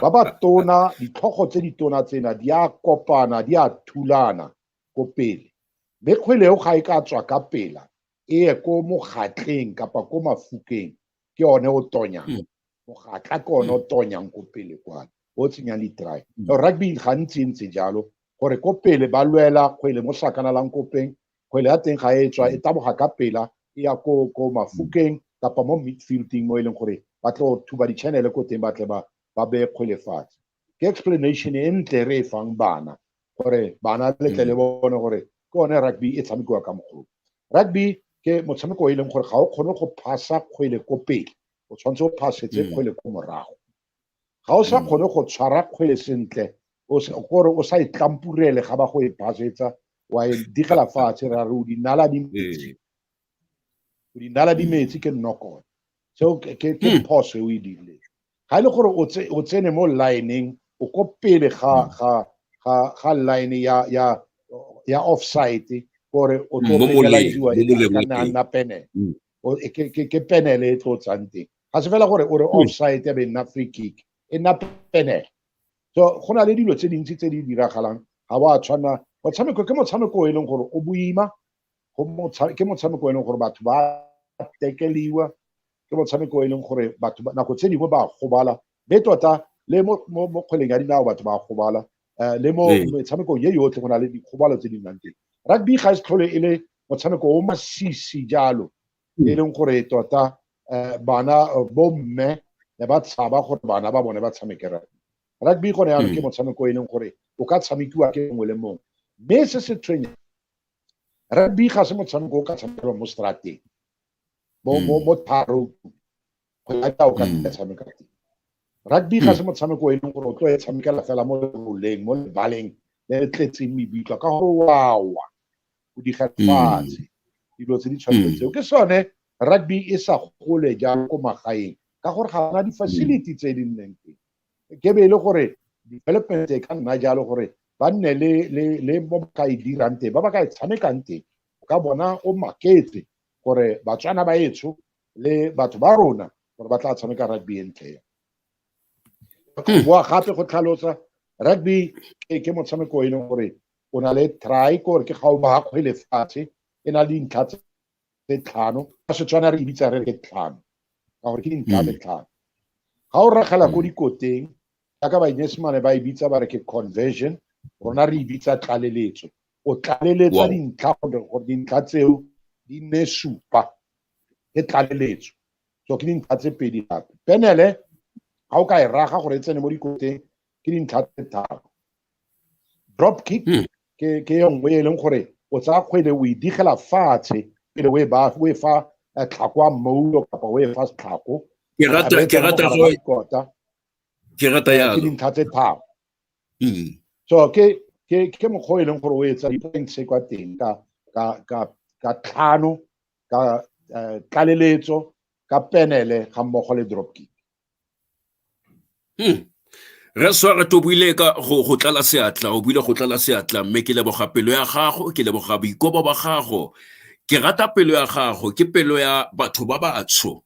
ba ba tona ditlhogo tse di tona tsena di a kopana di a thulana ko pele mme kgwele eo ga e ka tswa ka pela e ye ko mogatleng kapa ko mafukeng ke one o tonyang mm. mogatla ke one o mm. tonyang ko pele kwane o tsenyang di-try mm. rugby gantsi e ntse jalo gore ko pele ba lwela kgwele mo sakanalang kopeng kgwele ya teng ga e tswa e taboga ka pela e ya ko ko mafukeng kapa mo midfielding mo e leng gore ba tlo thuba di-channele ko teng ba tle ba beye kgwele fatshe ke explanation e ntle re e fang bana gore bana le tle le mm. bone gore ke one rugby e tshamekiwa ka mogolo rugby ke motshameko o e leng gore ga o kgone go phasa kgwele ko pele o tshwanetse o phasetse mm. kgwele ko morago ga o sa mm. kgone go tshwara kgwele sentle gore o sa e tlampurele ga ba go e phasetsa wa e digela fatshe ra re o dinala di metsi o dinala di metsi ke nnokone so ke ke ke Hmm. phoso e o e dirileng ga e le gore o tse- o tsene mo lineng o ko pele ga Hmm. ga ga ga line ya ya ya offside gore o Hmm, tlo mo moleng, penaliziwa mo e moleng ka wa nna teng. nna penel Hmm. O- e- ke ke- ke penel e tlo tsang teng ga se fela gore o re Hmm. offside ya be nna free kick e nna penel so go na le dilo tse dintsi tse di diragalang ga wa tshwana motshameko ke motshameko o e leng gore o boima ke motshameko e leng gore batho ba tekeliwa ke motshameko e leng gore batho nako tse dingwe ba gobala mme tota le mo kgweleng ya dinao batho ba gobala um le mo ee. metshamekong ye yotlhe go na le dikgobalo tse di nnang teng rugby ga e se tlhole e le motshameko o masisi jalo hmm. e leng gore tota um bana bomme ne ba tshaba gore bana ba bone ba tshameke rugby rugby gone yanong ke hmm. motshameko e leng gore o ka tshamekiwa ke mongwe le mongwe mme se se tshwenya Rugby ga se motshameko o ka tshamekelwa mo strateng. Bo mo hmm. mo tharo go ya ka o ka hmm. tshameka teng. Rugby ga hmm. se motshameko o e leng gore o tlo e tshamekela fela mo roleng mo lebaleng le le tletseng mebitlwa ka gore wawa o diga fatshe dilo tse di tshwanetseng tseo ke sone rugby e sa gole jalo ko magaeng ka gore ga ona di-facility tse di nneng teng ke be e le gore development e ka nna jalo gore ba nne le mo ba ka e dirang teng ba ba ka e tshamekang teng o ka bona o maketse gore batswana ba etsho le batho ba rona gore ba tla tshameka rugby e ntle ya hmm. boa gape go tlhalosa rugby ke motshameko e leng gore o na le try gore ke ga o ba kgwele fatshe e na le dintlha tse tse tlhano ka setswana re ibitsa re ke tlhano ka gore ke dintlha tse tlhano ga o ragela ko dikoteng jaaka bainyesemane ba ibitsa ba re ke conversion rona re ibitsa tlaleletso o tlaleletsa dintlha gore dintlha tseo di nne supa ke tlaleletso so ke dintlha tse pedi gape penele ga o ka e raga gore e tsene mo dikoteng ke dintlha tse tharo drop kick hmm. ke ke e nngwe e leng gore o tsaya kgwele o e digela fatshe pele o e ba o e fa eh, tlhako a mmoulo kapa o e fa setlhako ke rata ke rata go kota ke rata ya ke dintlha tse tharo hmm. so ke ke ke mokgwa e leng gore o etsa di-points kwa teng ka ka ka ka tlhano ka eh, tlaleletso ka penele ga mmogo le drop kick hmm. re sware to buile ka go tlala seatla o buile go tlala seatla mme ke leboga pelo ya gago ke leboga boikobo ba gago ke rata pelo ya gago ke pelo ya batho ba batsho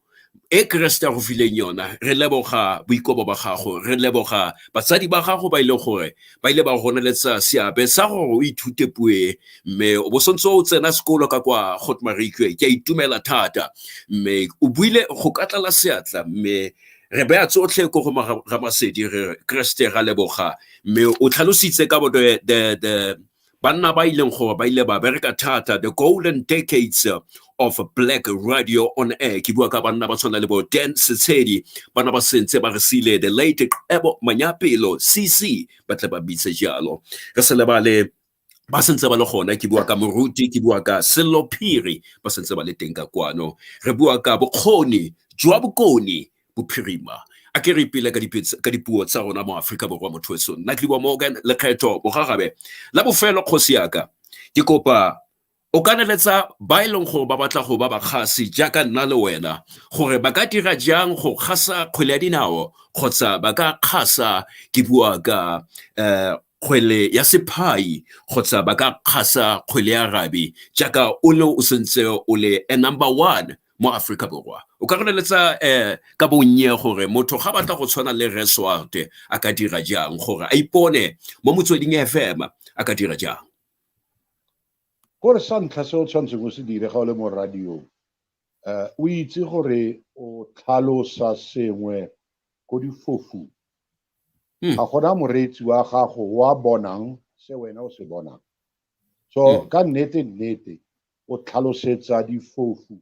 e keresete ya go fileng yona re leboga boikobo ba gago re leboga batsadi ba gago ba ile e gore ba ile ba go neletsa seabe sa gore o ithute puo e mme o bo santse o tsena sekolo ka kwa got marikwe ke a itumela thata mme o buile go ka tlala seatla mme re beya tsotlhe ko go ramasedi re kreste ga leboga mme o tlhalositse ka bo the Banna ba ileng gore ba ile ba bereka thata the golden decades of black radio on air ke bua ka banna ba tshwana le bo dan setshedi bana ba sentse ba re sile the late ebo manyapelo cc ba tle ba bitse jalo re se lebale ba sentse ba le gona ke bua ka moruti ke bua ka sello phiri ba sentse ba le teng ka kwano re bua ka bokgoni jwa bokoni bophirima a ke re ipele ka dipuo tsa rona mo aforika borwa motho weso nna ke diwa morgan lekgetho bogagabe la bofelo kgosi yaka ke kopa o ka neletsa ba e leng gore ba batla go ba bakgasi jaaka nna le wena gore ba ka dira jang go kgasa kgwele ya dinao kgotsa ba ka kgasa ke bua ka um kgwele ya sephai kgotsa ba ka kgasa kgwele ya rabi jaaka o ne o sentse o le a number one mo Aforika Borwa. O ka re leletsa um ka bonnye gore motho ga batla go tshwana le Rre Swarte a ka dira jang gore a ipone mo motsweding FM a ka dira jang? Gore sa ntlha se o tshwanetseng o se dire ga o le mo radiong um o itse gore o tlhalosa sengwe ko difofung hmm. ga gona moreetsi wa gago wa bonang se wena o se bonang so hmm. ka nnete nnete o tlhalosetsa difofu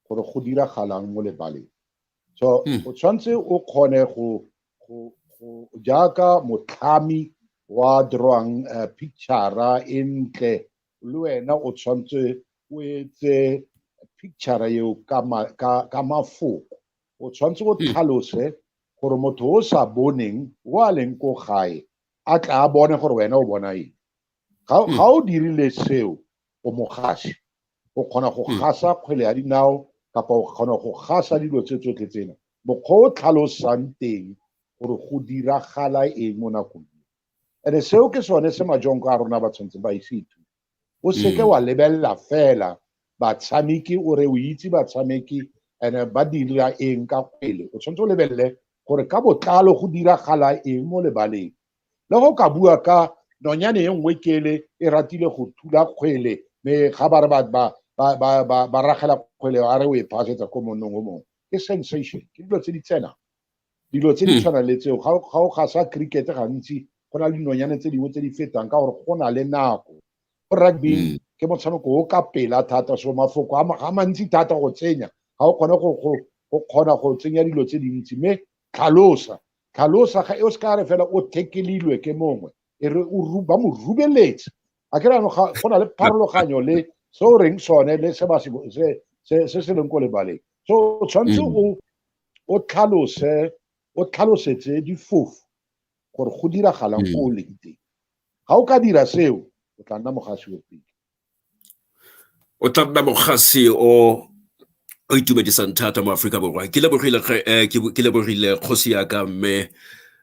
gore go diragalang mo lebaleng so hmm. o tshwanetse o kgone go jaaka motlhami wa drawang eh, picture e ntle le wena o tshwanetse o etse picture eo ka mafoko o tshwanetse o hmm. tlhalose gore motho o sa boneng o a leng ko gae a tla a bone gore wena o bona eng ga hmm. o dirile seo o mogasi o kgona go hmm. gasa kgwele ya dinao kapa o kgona go gasa dilo tse tsotlhe tsena mokgwa o tlhalosang teng gore go diragala eng mo nakong ene seo ke sone se majonko a rona ba tshwanetseng ba ise ithuta o seke hmm. wa lebelela fela batshameki o re o itse batshameki ene ba dira eng ka kgwele o tshwanetse o lebelele gore ka botlalo go diragala eng mo lebaleng le go ka bua ka nonyane e nngwe kele e ratile go thula kgwele me ga ba re ba ragela kgwele a re o e phasetsa ko monnong o mongwe ke sensation ke dilo tse di tsena dilo tse di hmm. tshwana le tseo ga o gasa cricket gantsi go na le dinonyane tse dingwe tse di fetang ka gore go na le nako go rugby hmm. ke motshameko o ka pela thata so mafoko a mantsi thata go tsenya ga o kgone go kgona go tsenya dilo tse dintsi mme tlhalosa Tlhalosa ga e o se ka re fela o thekelilwe ke mongwe e re ba mo rubeletse a ke rano go na le pharologanyo le se o reng sone le se se leng ko lebaleng so o tshwanetse mm. o tlhalose o tlhalosetse difofu gore go diragalang ko mm. o leng teng ga o ka dira seo o tla nna mogasi o pele o tla nna mokgasi o o itumedisang thata mo Aforika Borwa ke lebogile eh, ke lebogile kgosi ya ka mme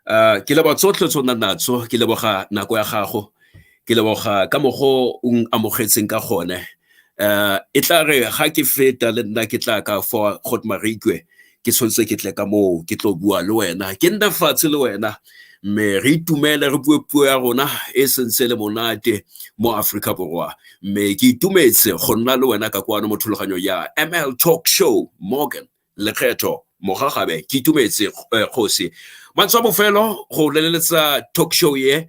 eh, ke leboga tsotlhe tse o nna natso ke leboga nako ya gago ke leboga ka mogo o amogetseng ka gone um e tla re ga ke feta le nna ke tla ka fa got marikwe ke tshwanetse ke tle ka moo ke tlo bua le wena ke nna fatshe le wena mme re itumele re bue puo ya rona e sentse le monate mo aforika borwa mme ke itumetse go nna le wena ka kwano mo thulaganyong ya ml talk show morgan lekgetho mogagabe ke itumetse eh, kgosi matswa bofelo go leletsa talk show ye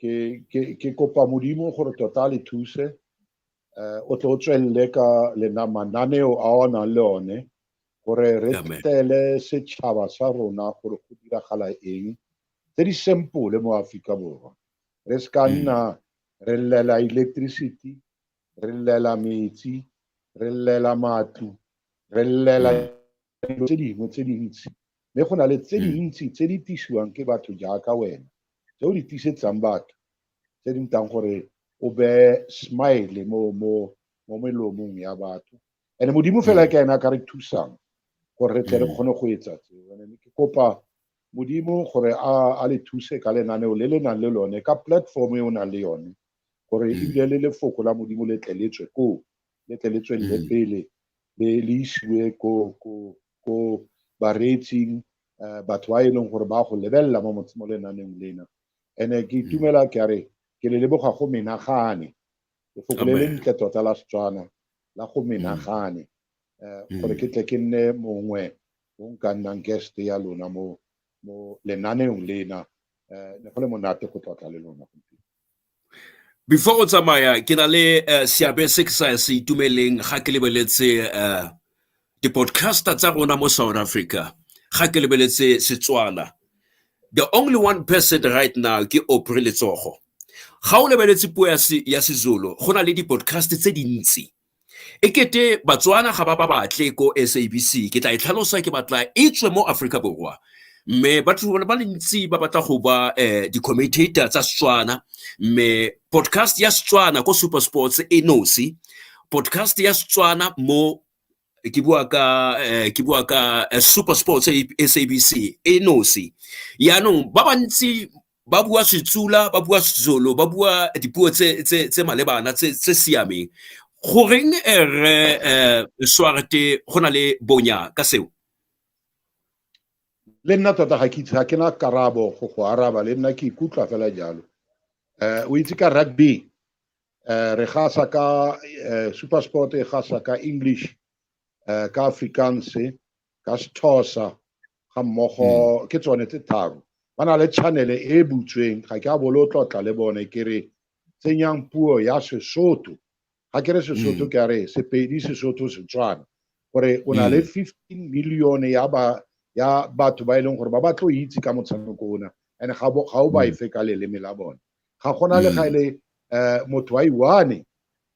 ke, ke, ke kopa modimo gore tota le thuse um o tle o tswelele ka lena mananeo a o nang le one gore re tele setšhaba sa rona gore go diragala eng tse di sempole mo aforika borwa re se ka mm. nna re llela electricity re llela metsi re llela matlo re llela mm. dilo tse dingwe tse dintsi mme go na le tse dintsi tse di tisiwang ke batho jaaka wena tse o di tisetsang batho tse di ntang gore o be smile mo mo mo melomong ya batho and modimo fela ke ena ka re thusang gore re tle re kgone go etsa tseo and ke kopa modimo gore a a le thuse ka lenaneo le le nang le lone ka platform e o nang le yone gore ebile le lefoko la modimo le tle le tswe koo le tle le tswelele pele le le isiwe ko ko ko bareetsing um batho ba e leng gore ba go lebelela mo mo lenaneng lena and-e ke hmm. itumela ke a re ke le leboga go menagane lefoko le le ntle tota la setswana la go hmm. menagane um hmm. gore ke tle ke nne mongwe o nka nnang guest ya lona mo mo lenaneng lena um ne go le monate go tlotla le lona gompieno Before o tsamaya ke na le seabe se ke sa se itumeleng ga ke lebeletse di-podcaster tsa rona mo South Africa, ga ke lebeletse Setswana. The only one person right now ke Aubrey Letsogo. Ga o lebeletse puo ya seZulu go na le di-podcast tse dintsi E kete Batswana ga ba ba batle ko S_A_B_C, ke tla e tlhalosa ke batla e tswe mo Aforika Borwa. Mme batho ba le bantsi ba batla go ba di-commentator tsa Setswana, mme podcast ya Setswana ko SuperSports e nosi, podcast ya Setswana mo ke bua ka ke bua ka SuperSports S_A_B_C e nosi. Jaanong ba bantsi ba bua Setsula ba bua Sezulu ba bua dipuo tse tse tse malebana tse tse siameng goreng eh, re eh, swarte go na le bonya ka seo le nna tota ga ke itse ga ke na karabo go go araba le nna ke ikutlwa fela jalo um o itse ka rugby um re gasa ka um supersport e gasa ka english um ka afrikaans ka Sethosa ga mmogo ke tsone tse tharo ba na le channel e butsweng ga ke a bolo tlotla le bone ke re tsenyang puo ya Sesotho ga ke re Sesotho ke a re Sepedi Sesotho Setswana gore o na le 15 million ya ba ya batho ba e leng gore ba ba tlo itse ka motshameko ona and ga o ba efe ka leleme la bone ga gona le ga ele um motho wa iwane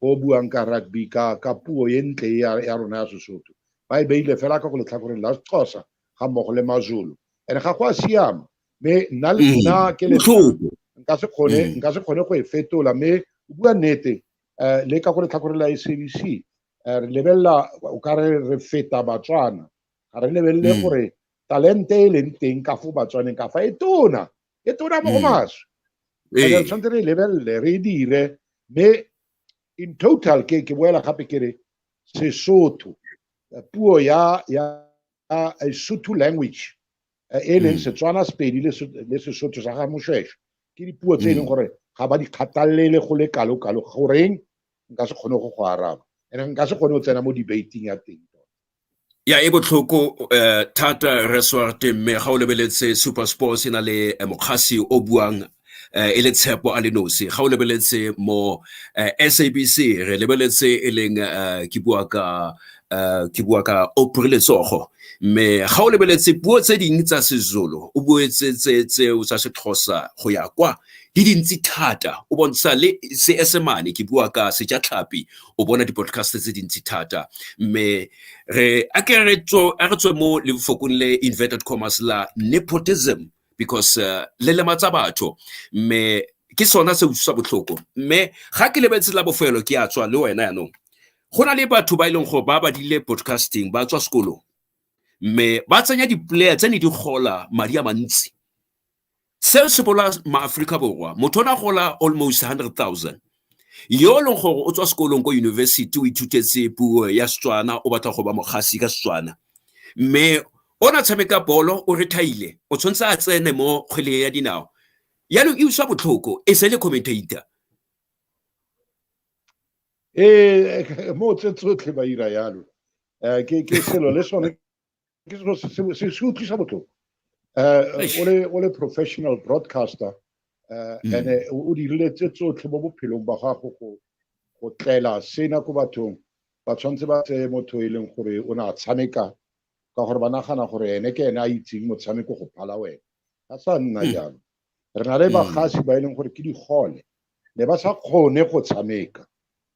o buang ka rugby ka ka puo e ntle ya rona ya sesotho ba e beile fela ka go letlhakoreng la sexhosa ga mmogo le mazulu and ga go a siama mme nna le mm. nna ke letlhoko nka se kgone mm. nka se kgone go e fetola mme o bua nnete um le ka go letlhakoreng la sabc um eh, re lebelela o ka re re feta batswana ga re lebelele mm. gore talente e leng teng ka fo batswaneng ka fa e tona E tu ramo mas. E dan san tere level le re dire me in total ke ke wela hape kere se soto puo ya ya a Sotho language e leng Setswana Sepedi le Sesotho sa ga Moshweshwe ke dipuo tse e leng gore ga ba di kgathalele go le kalo-kalo goreng nka se kgone go go araba and nka se kgone go tsena mo debating ya teng ya e botlhoko um thata resort mme ga o lebeletse super sports e na le eh, mokgasi o buang eh, e le tshepo a le nosi ga o lebeletse mo eh, sabc re lebeletse e leng ke bua ka ke bua ka opre letsogo mme ga o lebeletse puo tse dingwe tsa sezulu o buetse tse tseo tsa sexhosa go ya kwa di dintsi thata o bontsha le seesemane ke bua ka sejatlhapi o bona di-podcast tse dintsi thata mme re a ke re tswe mo lefokong le inverted commerce la nepotism because uh, le lematsa batho mme ke sona se utlwisa botlhoko mme ga ke lebetse la bofelo ke a tswa le wena yanong go na le batho ba e leng gore ba badile podcasting ba tswa sekolong mme ba tsenya di-player tse ne di gola madi a mantsi Seo se bolaya maAforika Borwa. Motho o ne a gola almost 100,000. Yo e leng gore o tswa sekolong ko university o ithutetse puo ya Setswana o batla go ba mogasi ka Setswana. Mme o ne a tshameka bolo o rethaile o tshwanetse a tsene mo kgweleng ya dinao. Yaanong e utlwa botlhoko e se le commentator. Ee, mo tse tsotlhe ba ira yalo. Ke selo le sone ke selo se se utlwisa botlhoko eh, o le o le professional broadcaster eh, mm. and eh, o dirile tse tsotlhe mo bophelong ba gago go go tlela sena ko bathong ba tshwanetse ba tseye motho e leng gore o ne a tshameka ka gore ba nagana gore ene ke ene a itseng motshameko go phala wena ga sa nna mm. jalo re na le mm. bagasi ba e leng gore ke digole ne ba sa kgone go tshameka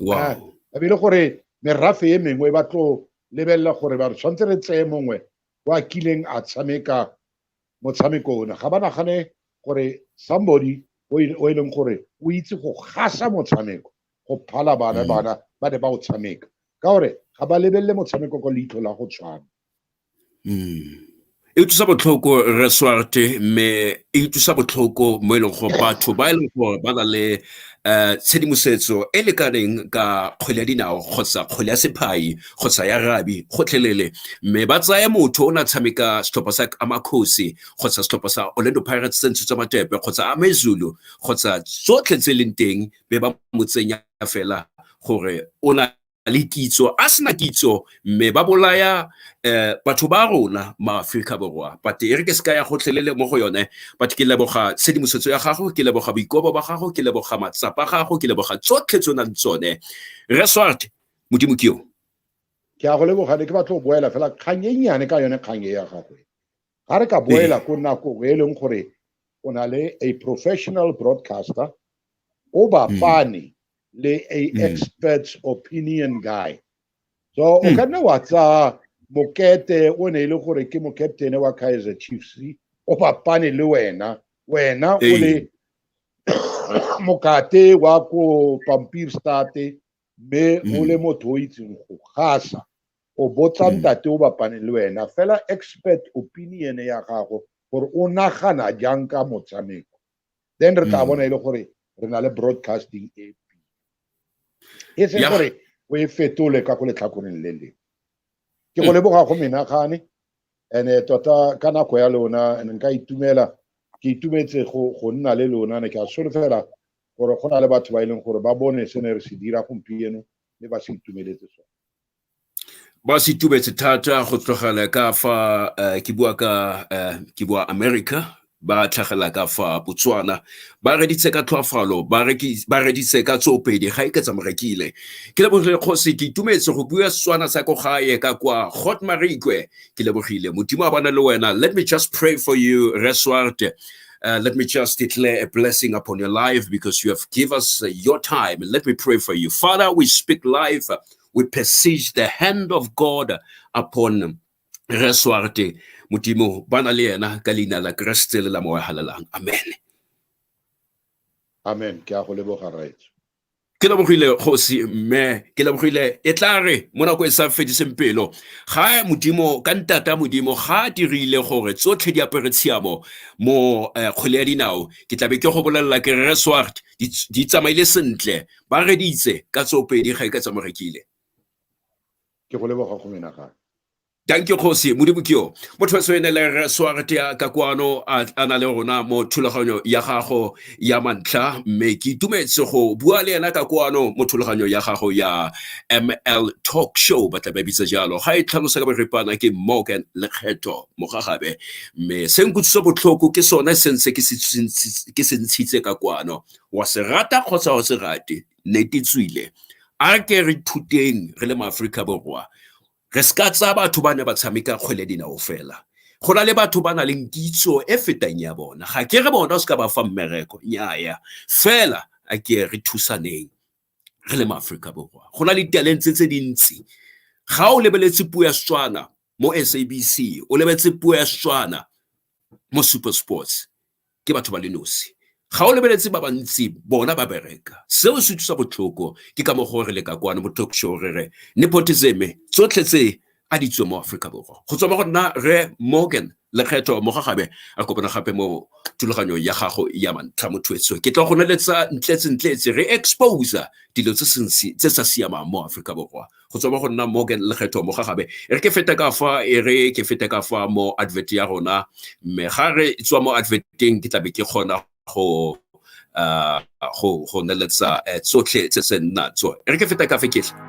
wow a bile gore merafe e mengwe ba tlo lebelela gore ba re tshwanetse re tseye mongwe o a kileng a tshameka motshameko one ga ba nagane gore somebody o e leng gore o itse go gasa motshameko go phala bana mm. bana ba ne ba o tshameka ka gore ga ba lebelele motshameko ka leitlho la go tshwana Mm. E utlwisa botlhoko re swarte mme e utlwisa botlhoko mo e leng gore batho ba e leng gore ba na le um tshedimosetso e lekaneng ka kgwele ya dinao kgotsa kgwele ya sephayi kgotsa ya rabi gotlhelele mme ba tsaya motho o ne a tshameka setlhopha sa amakhosi kgotsa setlhopha sa orlando pirates se ntshitswe matepe kgotsa amezulu kgotsa tsotlhe tse e leng teng be ba mo tsenya fela gore o na le kitso a sena kitso mme ba bolaya um batho ba rona maaforika borwa but e re ke se ka ya gotlhelele mo go yone but ke leboga tshedimosetso ya gago ke leboga boikobo ba gago ke leboga matsapa gago ke leboga tsotlhe tse o nang tsone resort modimo ke yo ke a go leboga ne ke batlo go boela fela kgang e nnyane ka yone kgang e ya gagwe ga re ka boela ko nako e leng gore o na le a professional broadcaster o bapane le a mm. expert's opinion guy so o mm. ka nna wa tsa mokete o ne e le gore ke mokaptene wa kaizer chiefs o papane le wena wena o le mokate wa ko pampir state mme o mm. le motho o itseng go gasa o botsa mm. ntate o bapane le wena fela expert opinion ya gago gore o nagana jang ka motshameko then re tla mm. bona e le gore re na le broadcasting e e se gore o e fetole ka go letlhakoreng le le ke go mm. leboga go menagane ene eh, tota ka nako ya lona ene nka itumela ke itumetse go nna le lona ne ke a solofela gore go na le batho ba e leng gore ba bone se ne re se dira gompieno mme ba se itumeletse sone ba se tubetse thata go tlogela ka fa uh, ke bua ka uh, ke bua america ba tlhagela ka fa botswana ba reditse ka tlhoafalo ba reditse ka tsopedi ga e ke tsamorekile ke lebogile kgosi ke itumetse go bua setswana sa ko gae ka kwa hot marikwe ke lebogile modimo a bana le wena let me just pray for you reswart Uh, let me just declare a blessing upon your life because you have given us uh, your time. Let me pray for you. Father, we speak life we perceive the hand of God upon Reswarte Mutimo Banaliena Kalina la Krestel la Moahalalang. Amen. Amen. Ke a go leboga rraetsho. Ke lebogile kgosi mme ke lebogile e tla re mo nako e sa fediseng pelo ga modimo ka ntata modimo ga a dirile gore tsotlhe di apere tshiamo mo eh, kgwele ya dinao ke tlabe ke go bolelela ke reswart di tsamaile sentle ba reditse ka tsopedi ga e ka tsamorekile ke go leboga go menagane danke kgosi modimo ke yo motho wa sene le re swartea ka kwano a na le rona mo thulaganyo ya gago ya mantlha mme ke itumetse go bua le ena ka kwano mo thulaganyo ya gago ya ml talk show ba tla ba bitsa jalo ga e tlhalosa ka boripana ke morgan lekgetho mogagabe mme se nkutlwisa botlhoko ke sone se ntse ke se ntshitse ka kwano wa se rata kgotsa wa se rate nete tswile a ke re thuteng re le maaforika borwa re se ka tsaya batho ba ne ba tshameka kgwele dinao fela go na le batho ba na leng kitso e fetang ya bona ga ke re bona o se ka ba fa mmereko nnyaya fela a ke re thusaneng re le maaforika borwa go na le talent tse dintsi ga o lebeletse puo ya setswana mo sabc o lebeletse puo ya setswana mo super sports ke batho ba le nosi ga o lebeletse ba bantsi bona ba bereka seo se thusa botlhoko ke ka mo gore le ka kwane mo talk show re re nepotism tsotlhe tse a di tswe mo Aforika Borwa go tswa mo go nna Rre Morgan Lekgetho Mogagabe a kopana gape mo thulaganyong ya gago ya mantlha mo thuetsong ke tla go neletsa ntletse-ntletse re exposa dilo tse sentsi tse sa siamang mo Aforika Borwa go tswa mo go nna Morgan Lekgetho Mogagabe e re ke fete ka fa e re ke fete ka fa mo advert ya rona mme ga re tswa mo adverteng ke tlabe ke kgona go uh, go go neletsa eh, tsotlhe tse se nna tso re ke feta ka fe ketlhe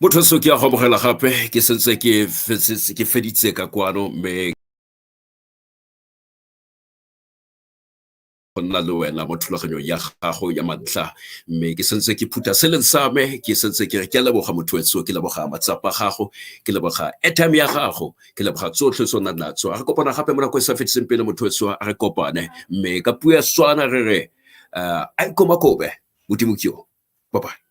motho se ke ya go amogela gape ke sentse ke feditse ka kwano mme go nna le wena mo thulaganyong ya gago ya mantlha mme ke sentse ke phutha se leng sa me ke sentse ke re ke leboga motho wetso ke leboga matsapa gago ke leboga airtime ya gago ke leboga tsotlhe tse o nang natso a re kopana gape mo nako e sa fetiseng pele motho wetso a re kopane mme ka puo ya swana re re uh, a ikomakobe modimo ke yo bye bye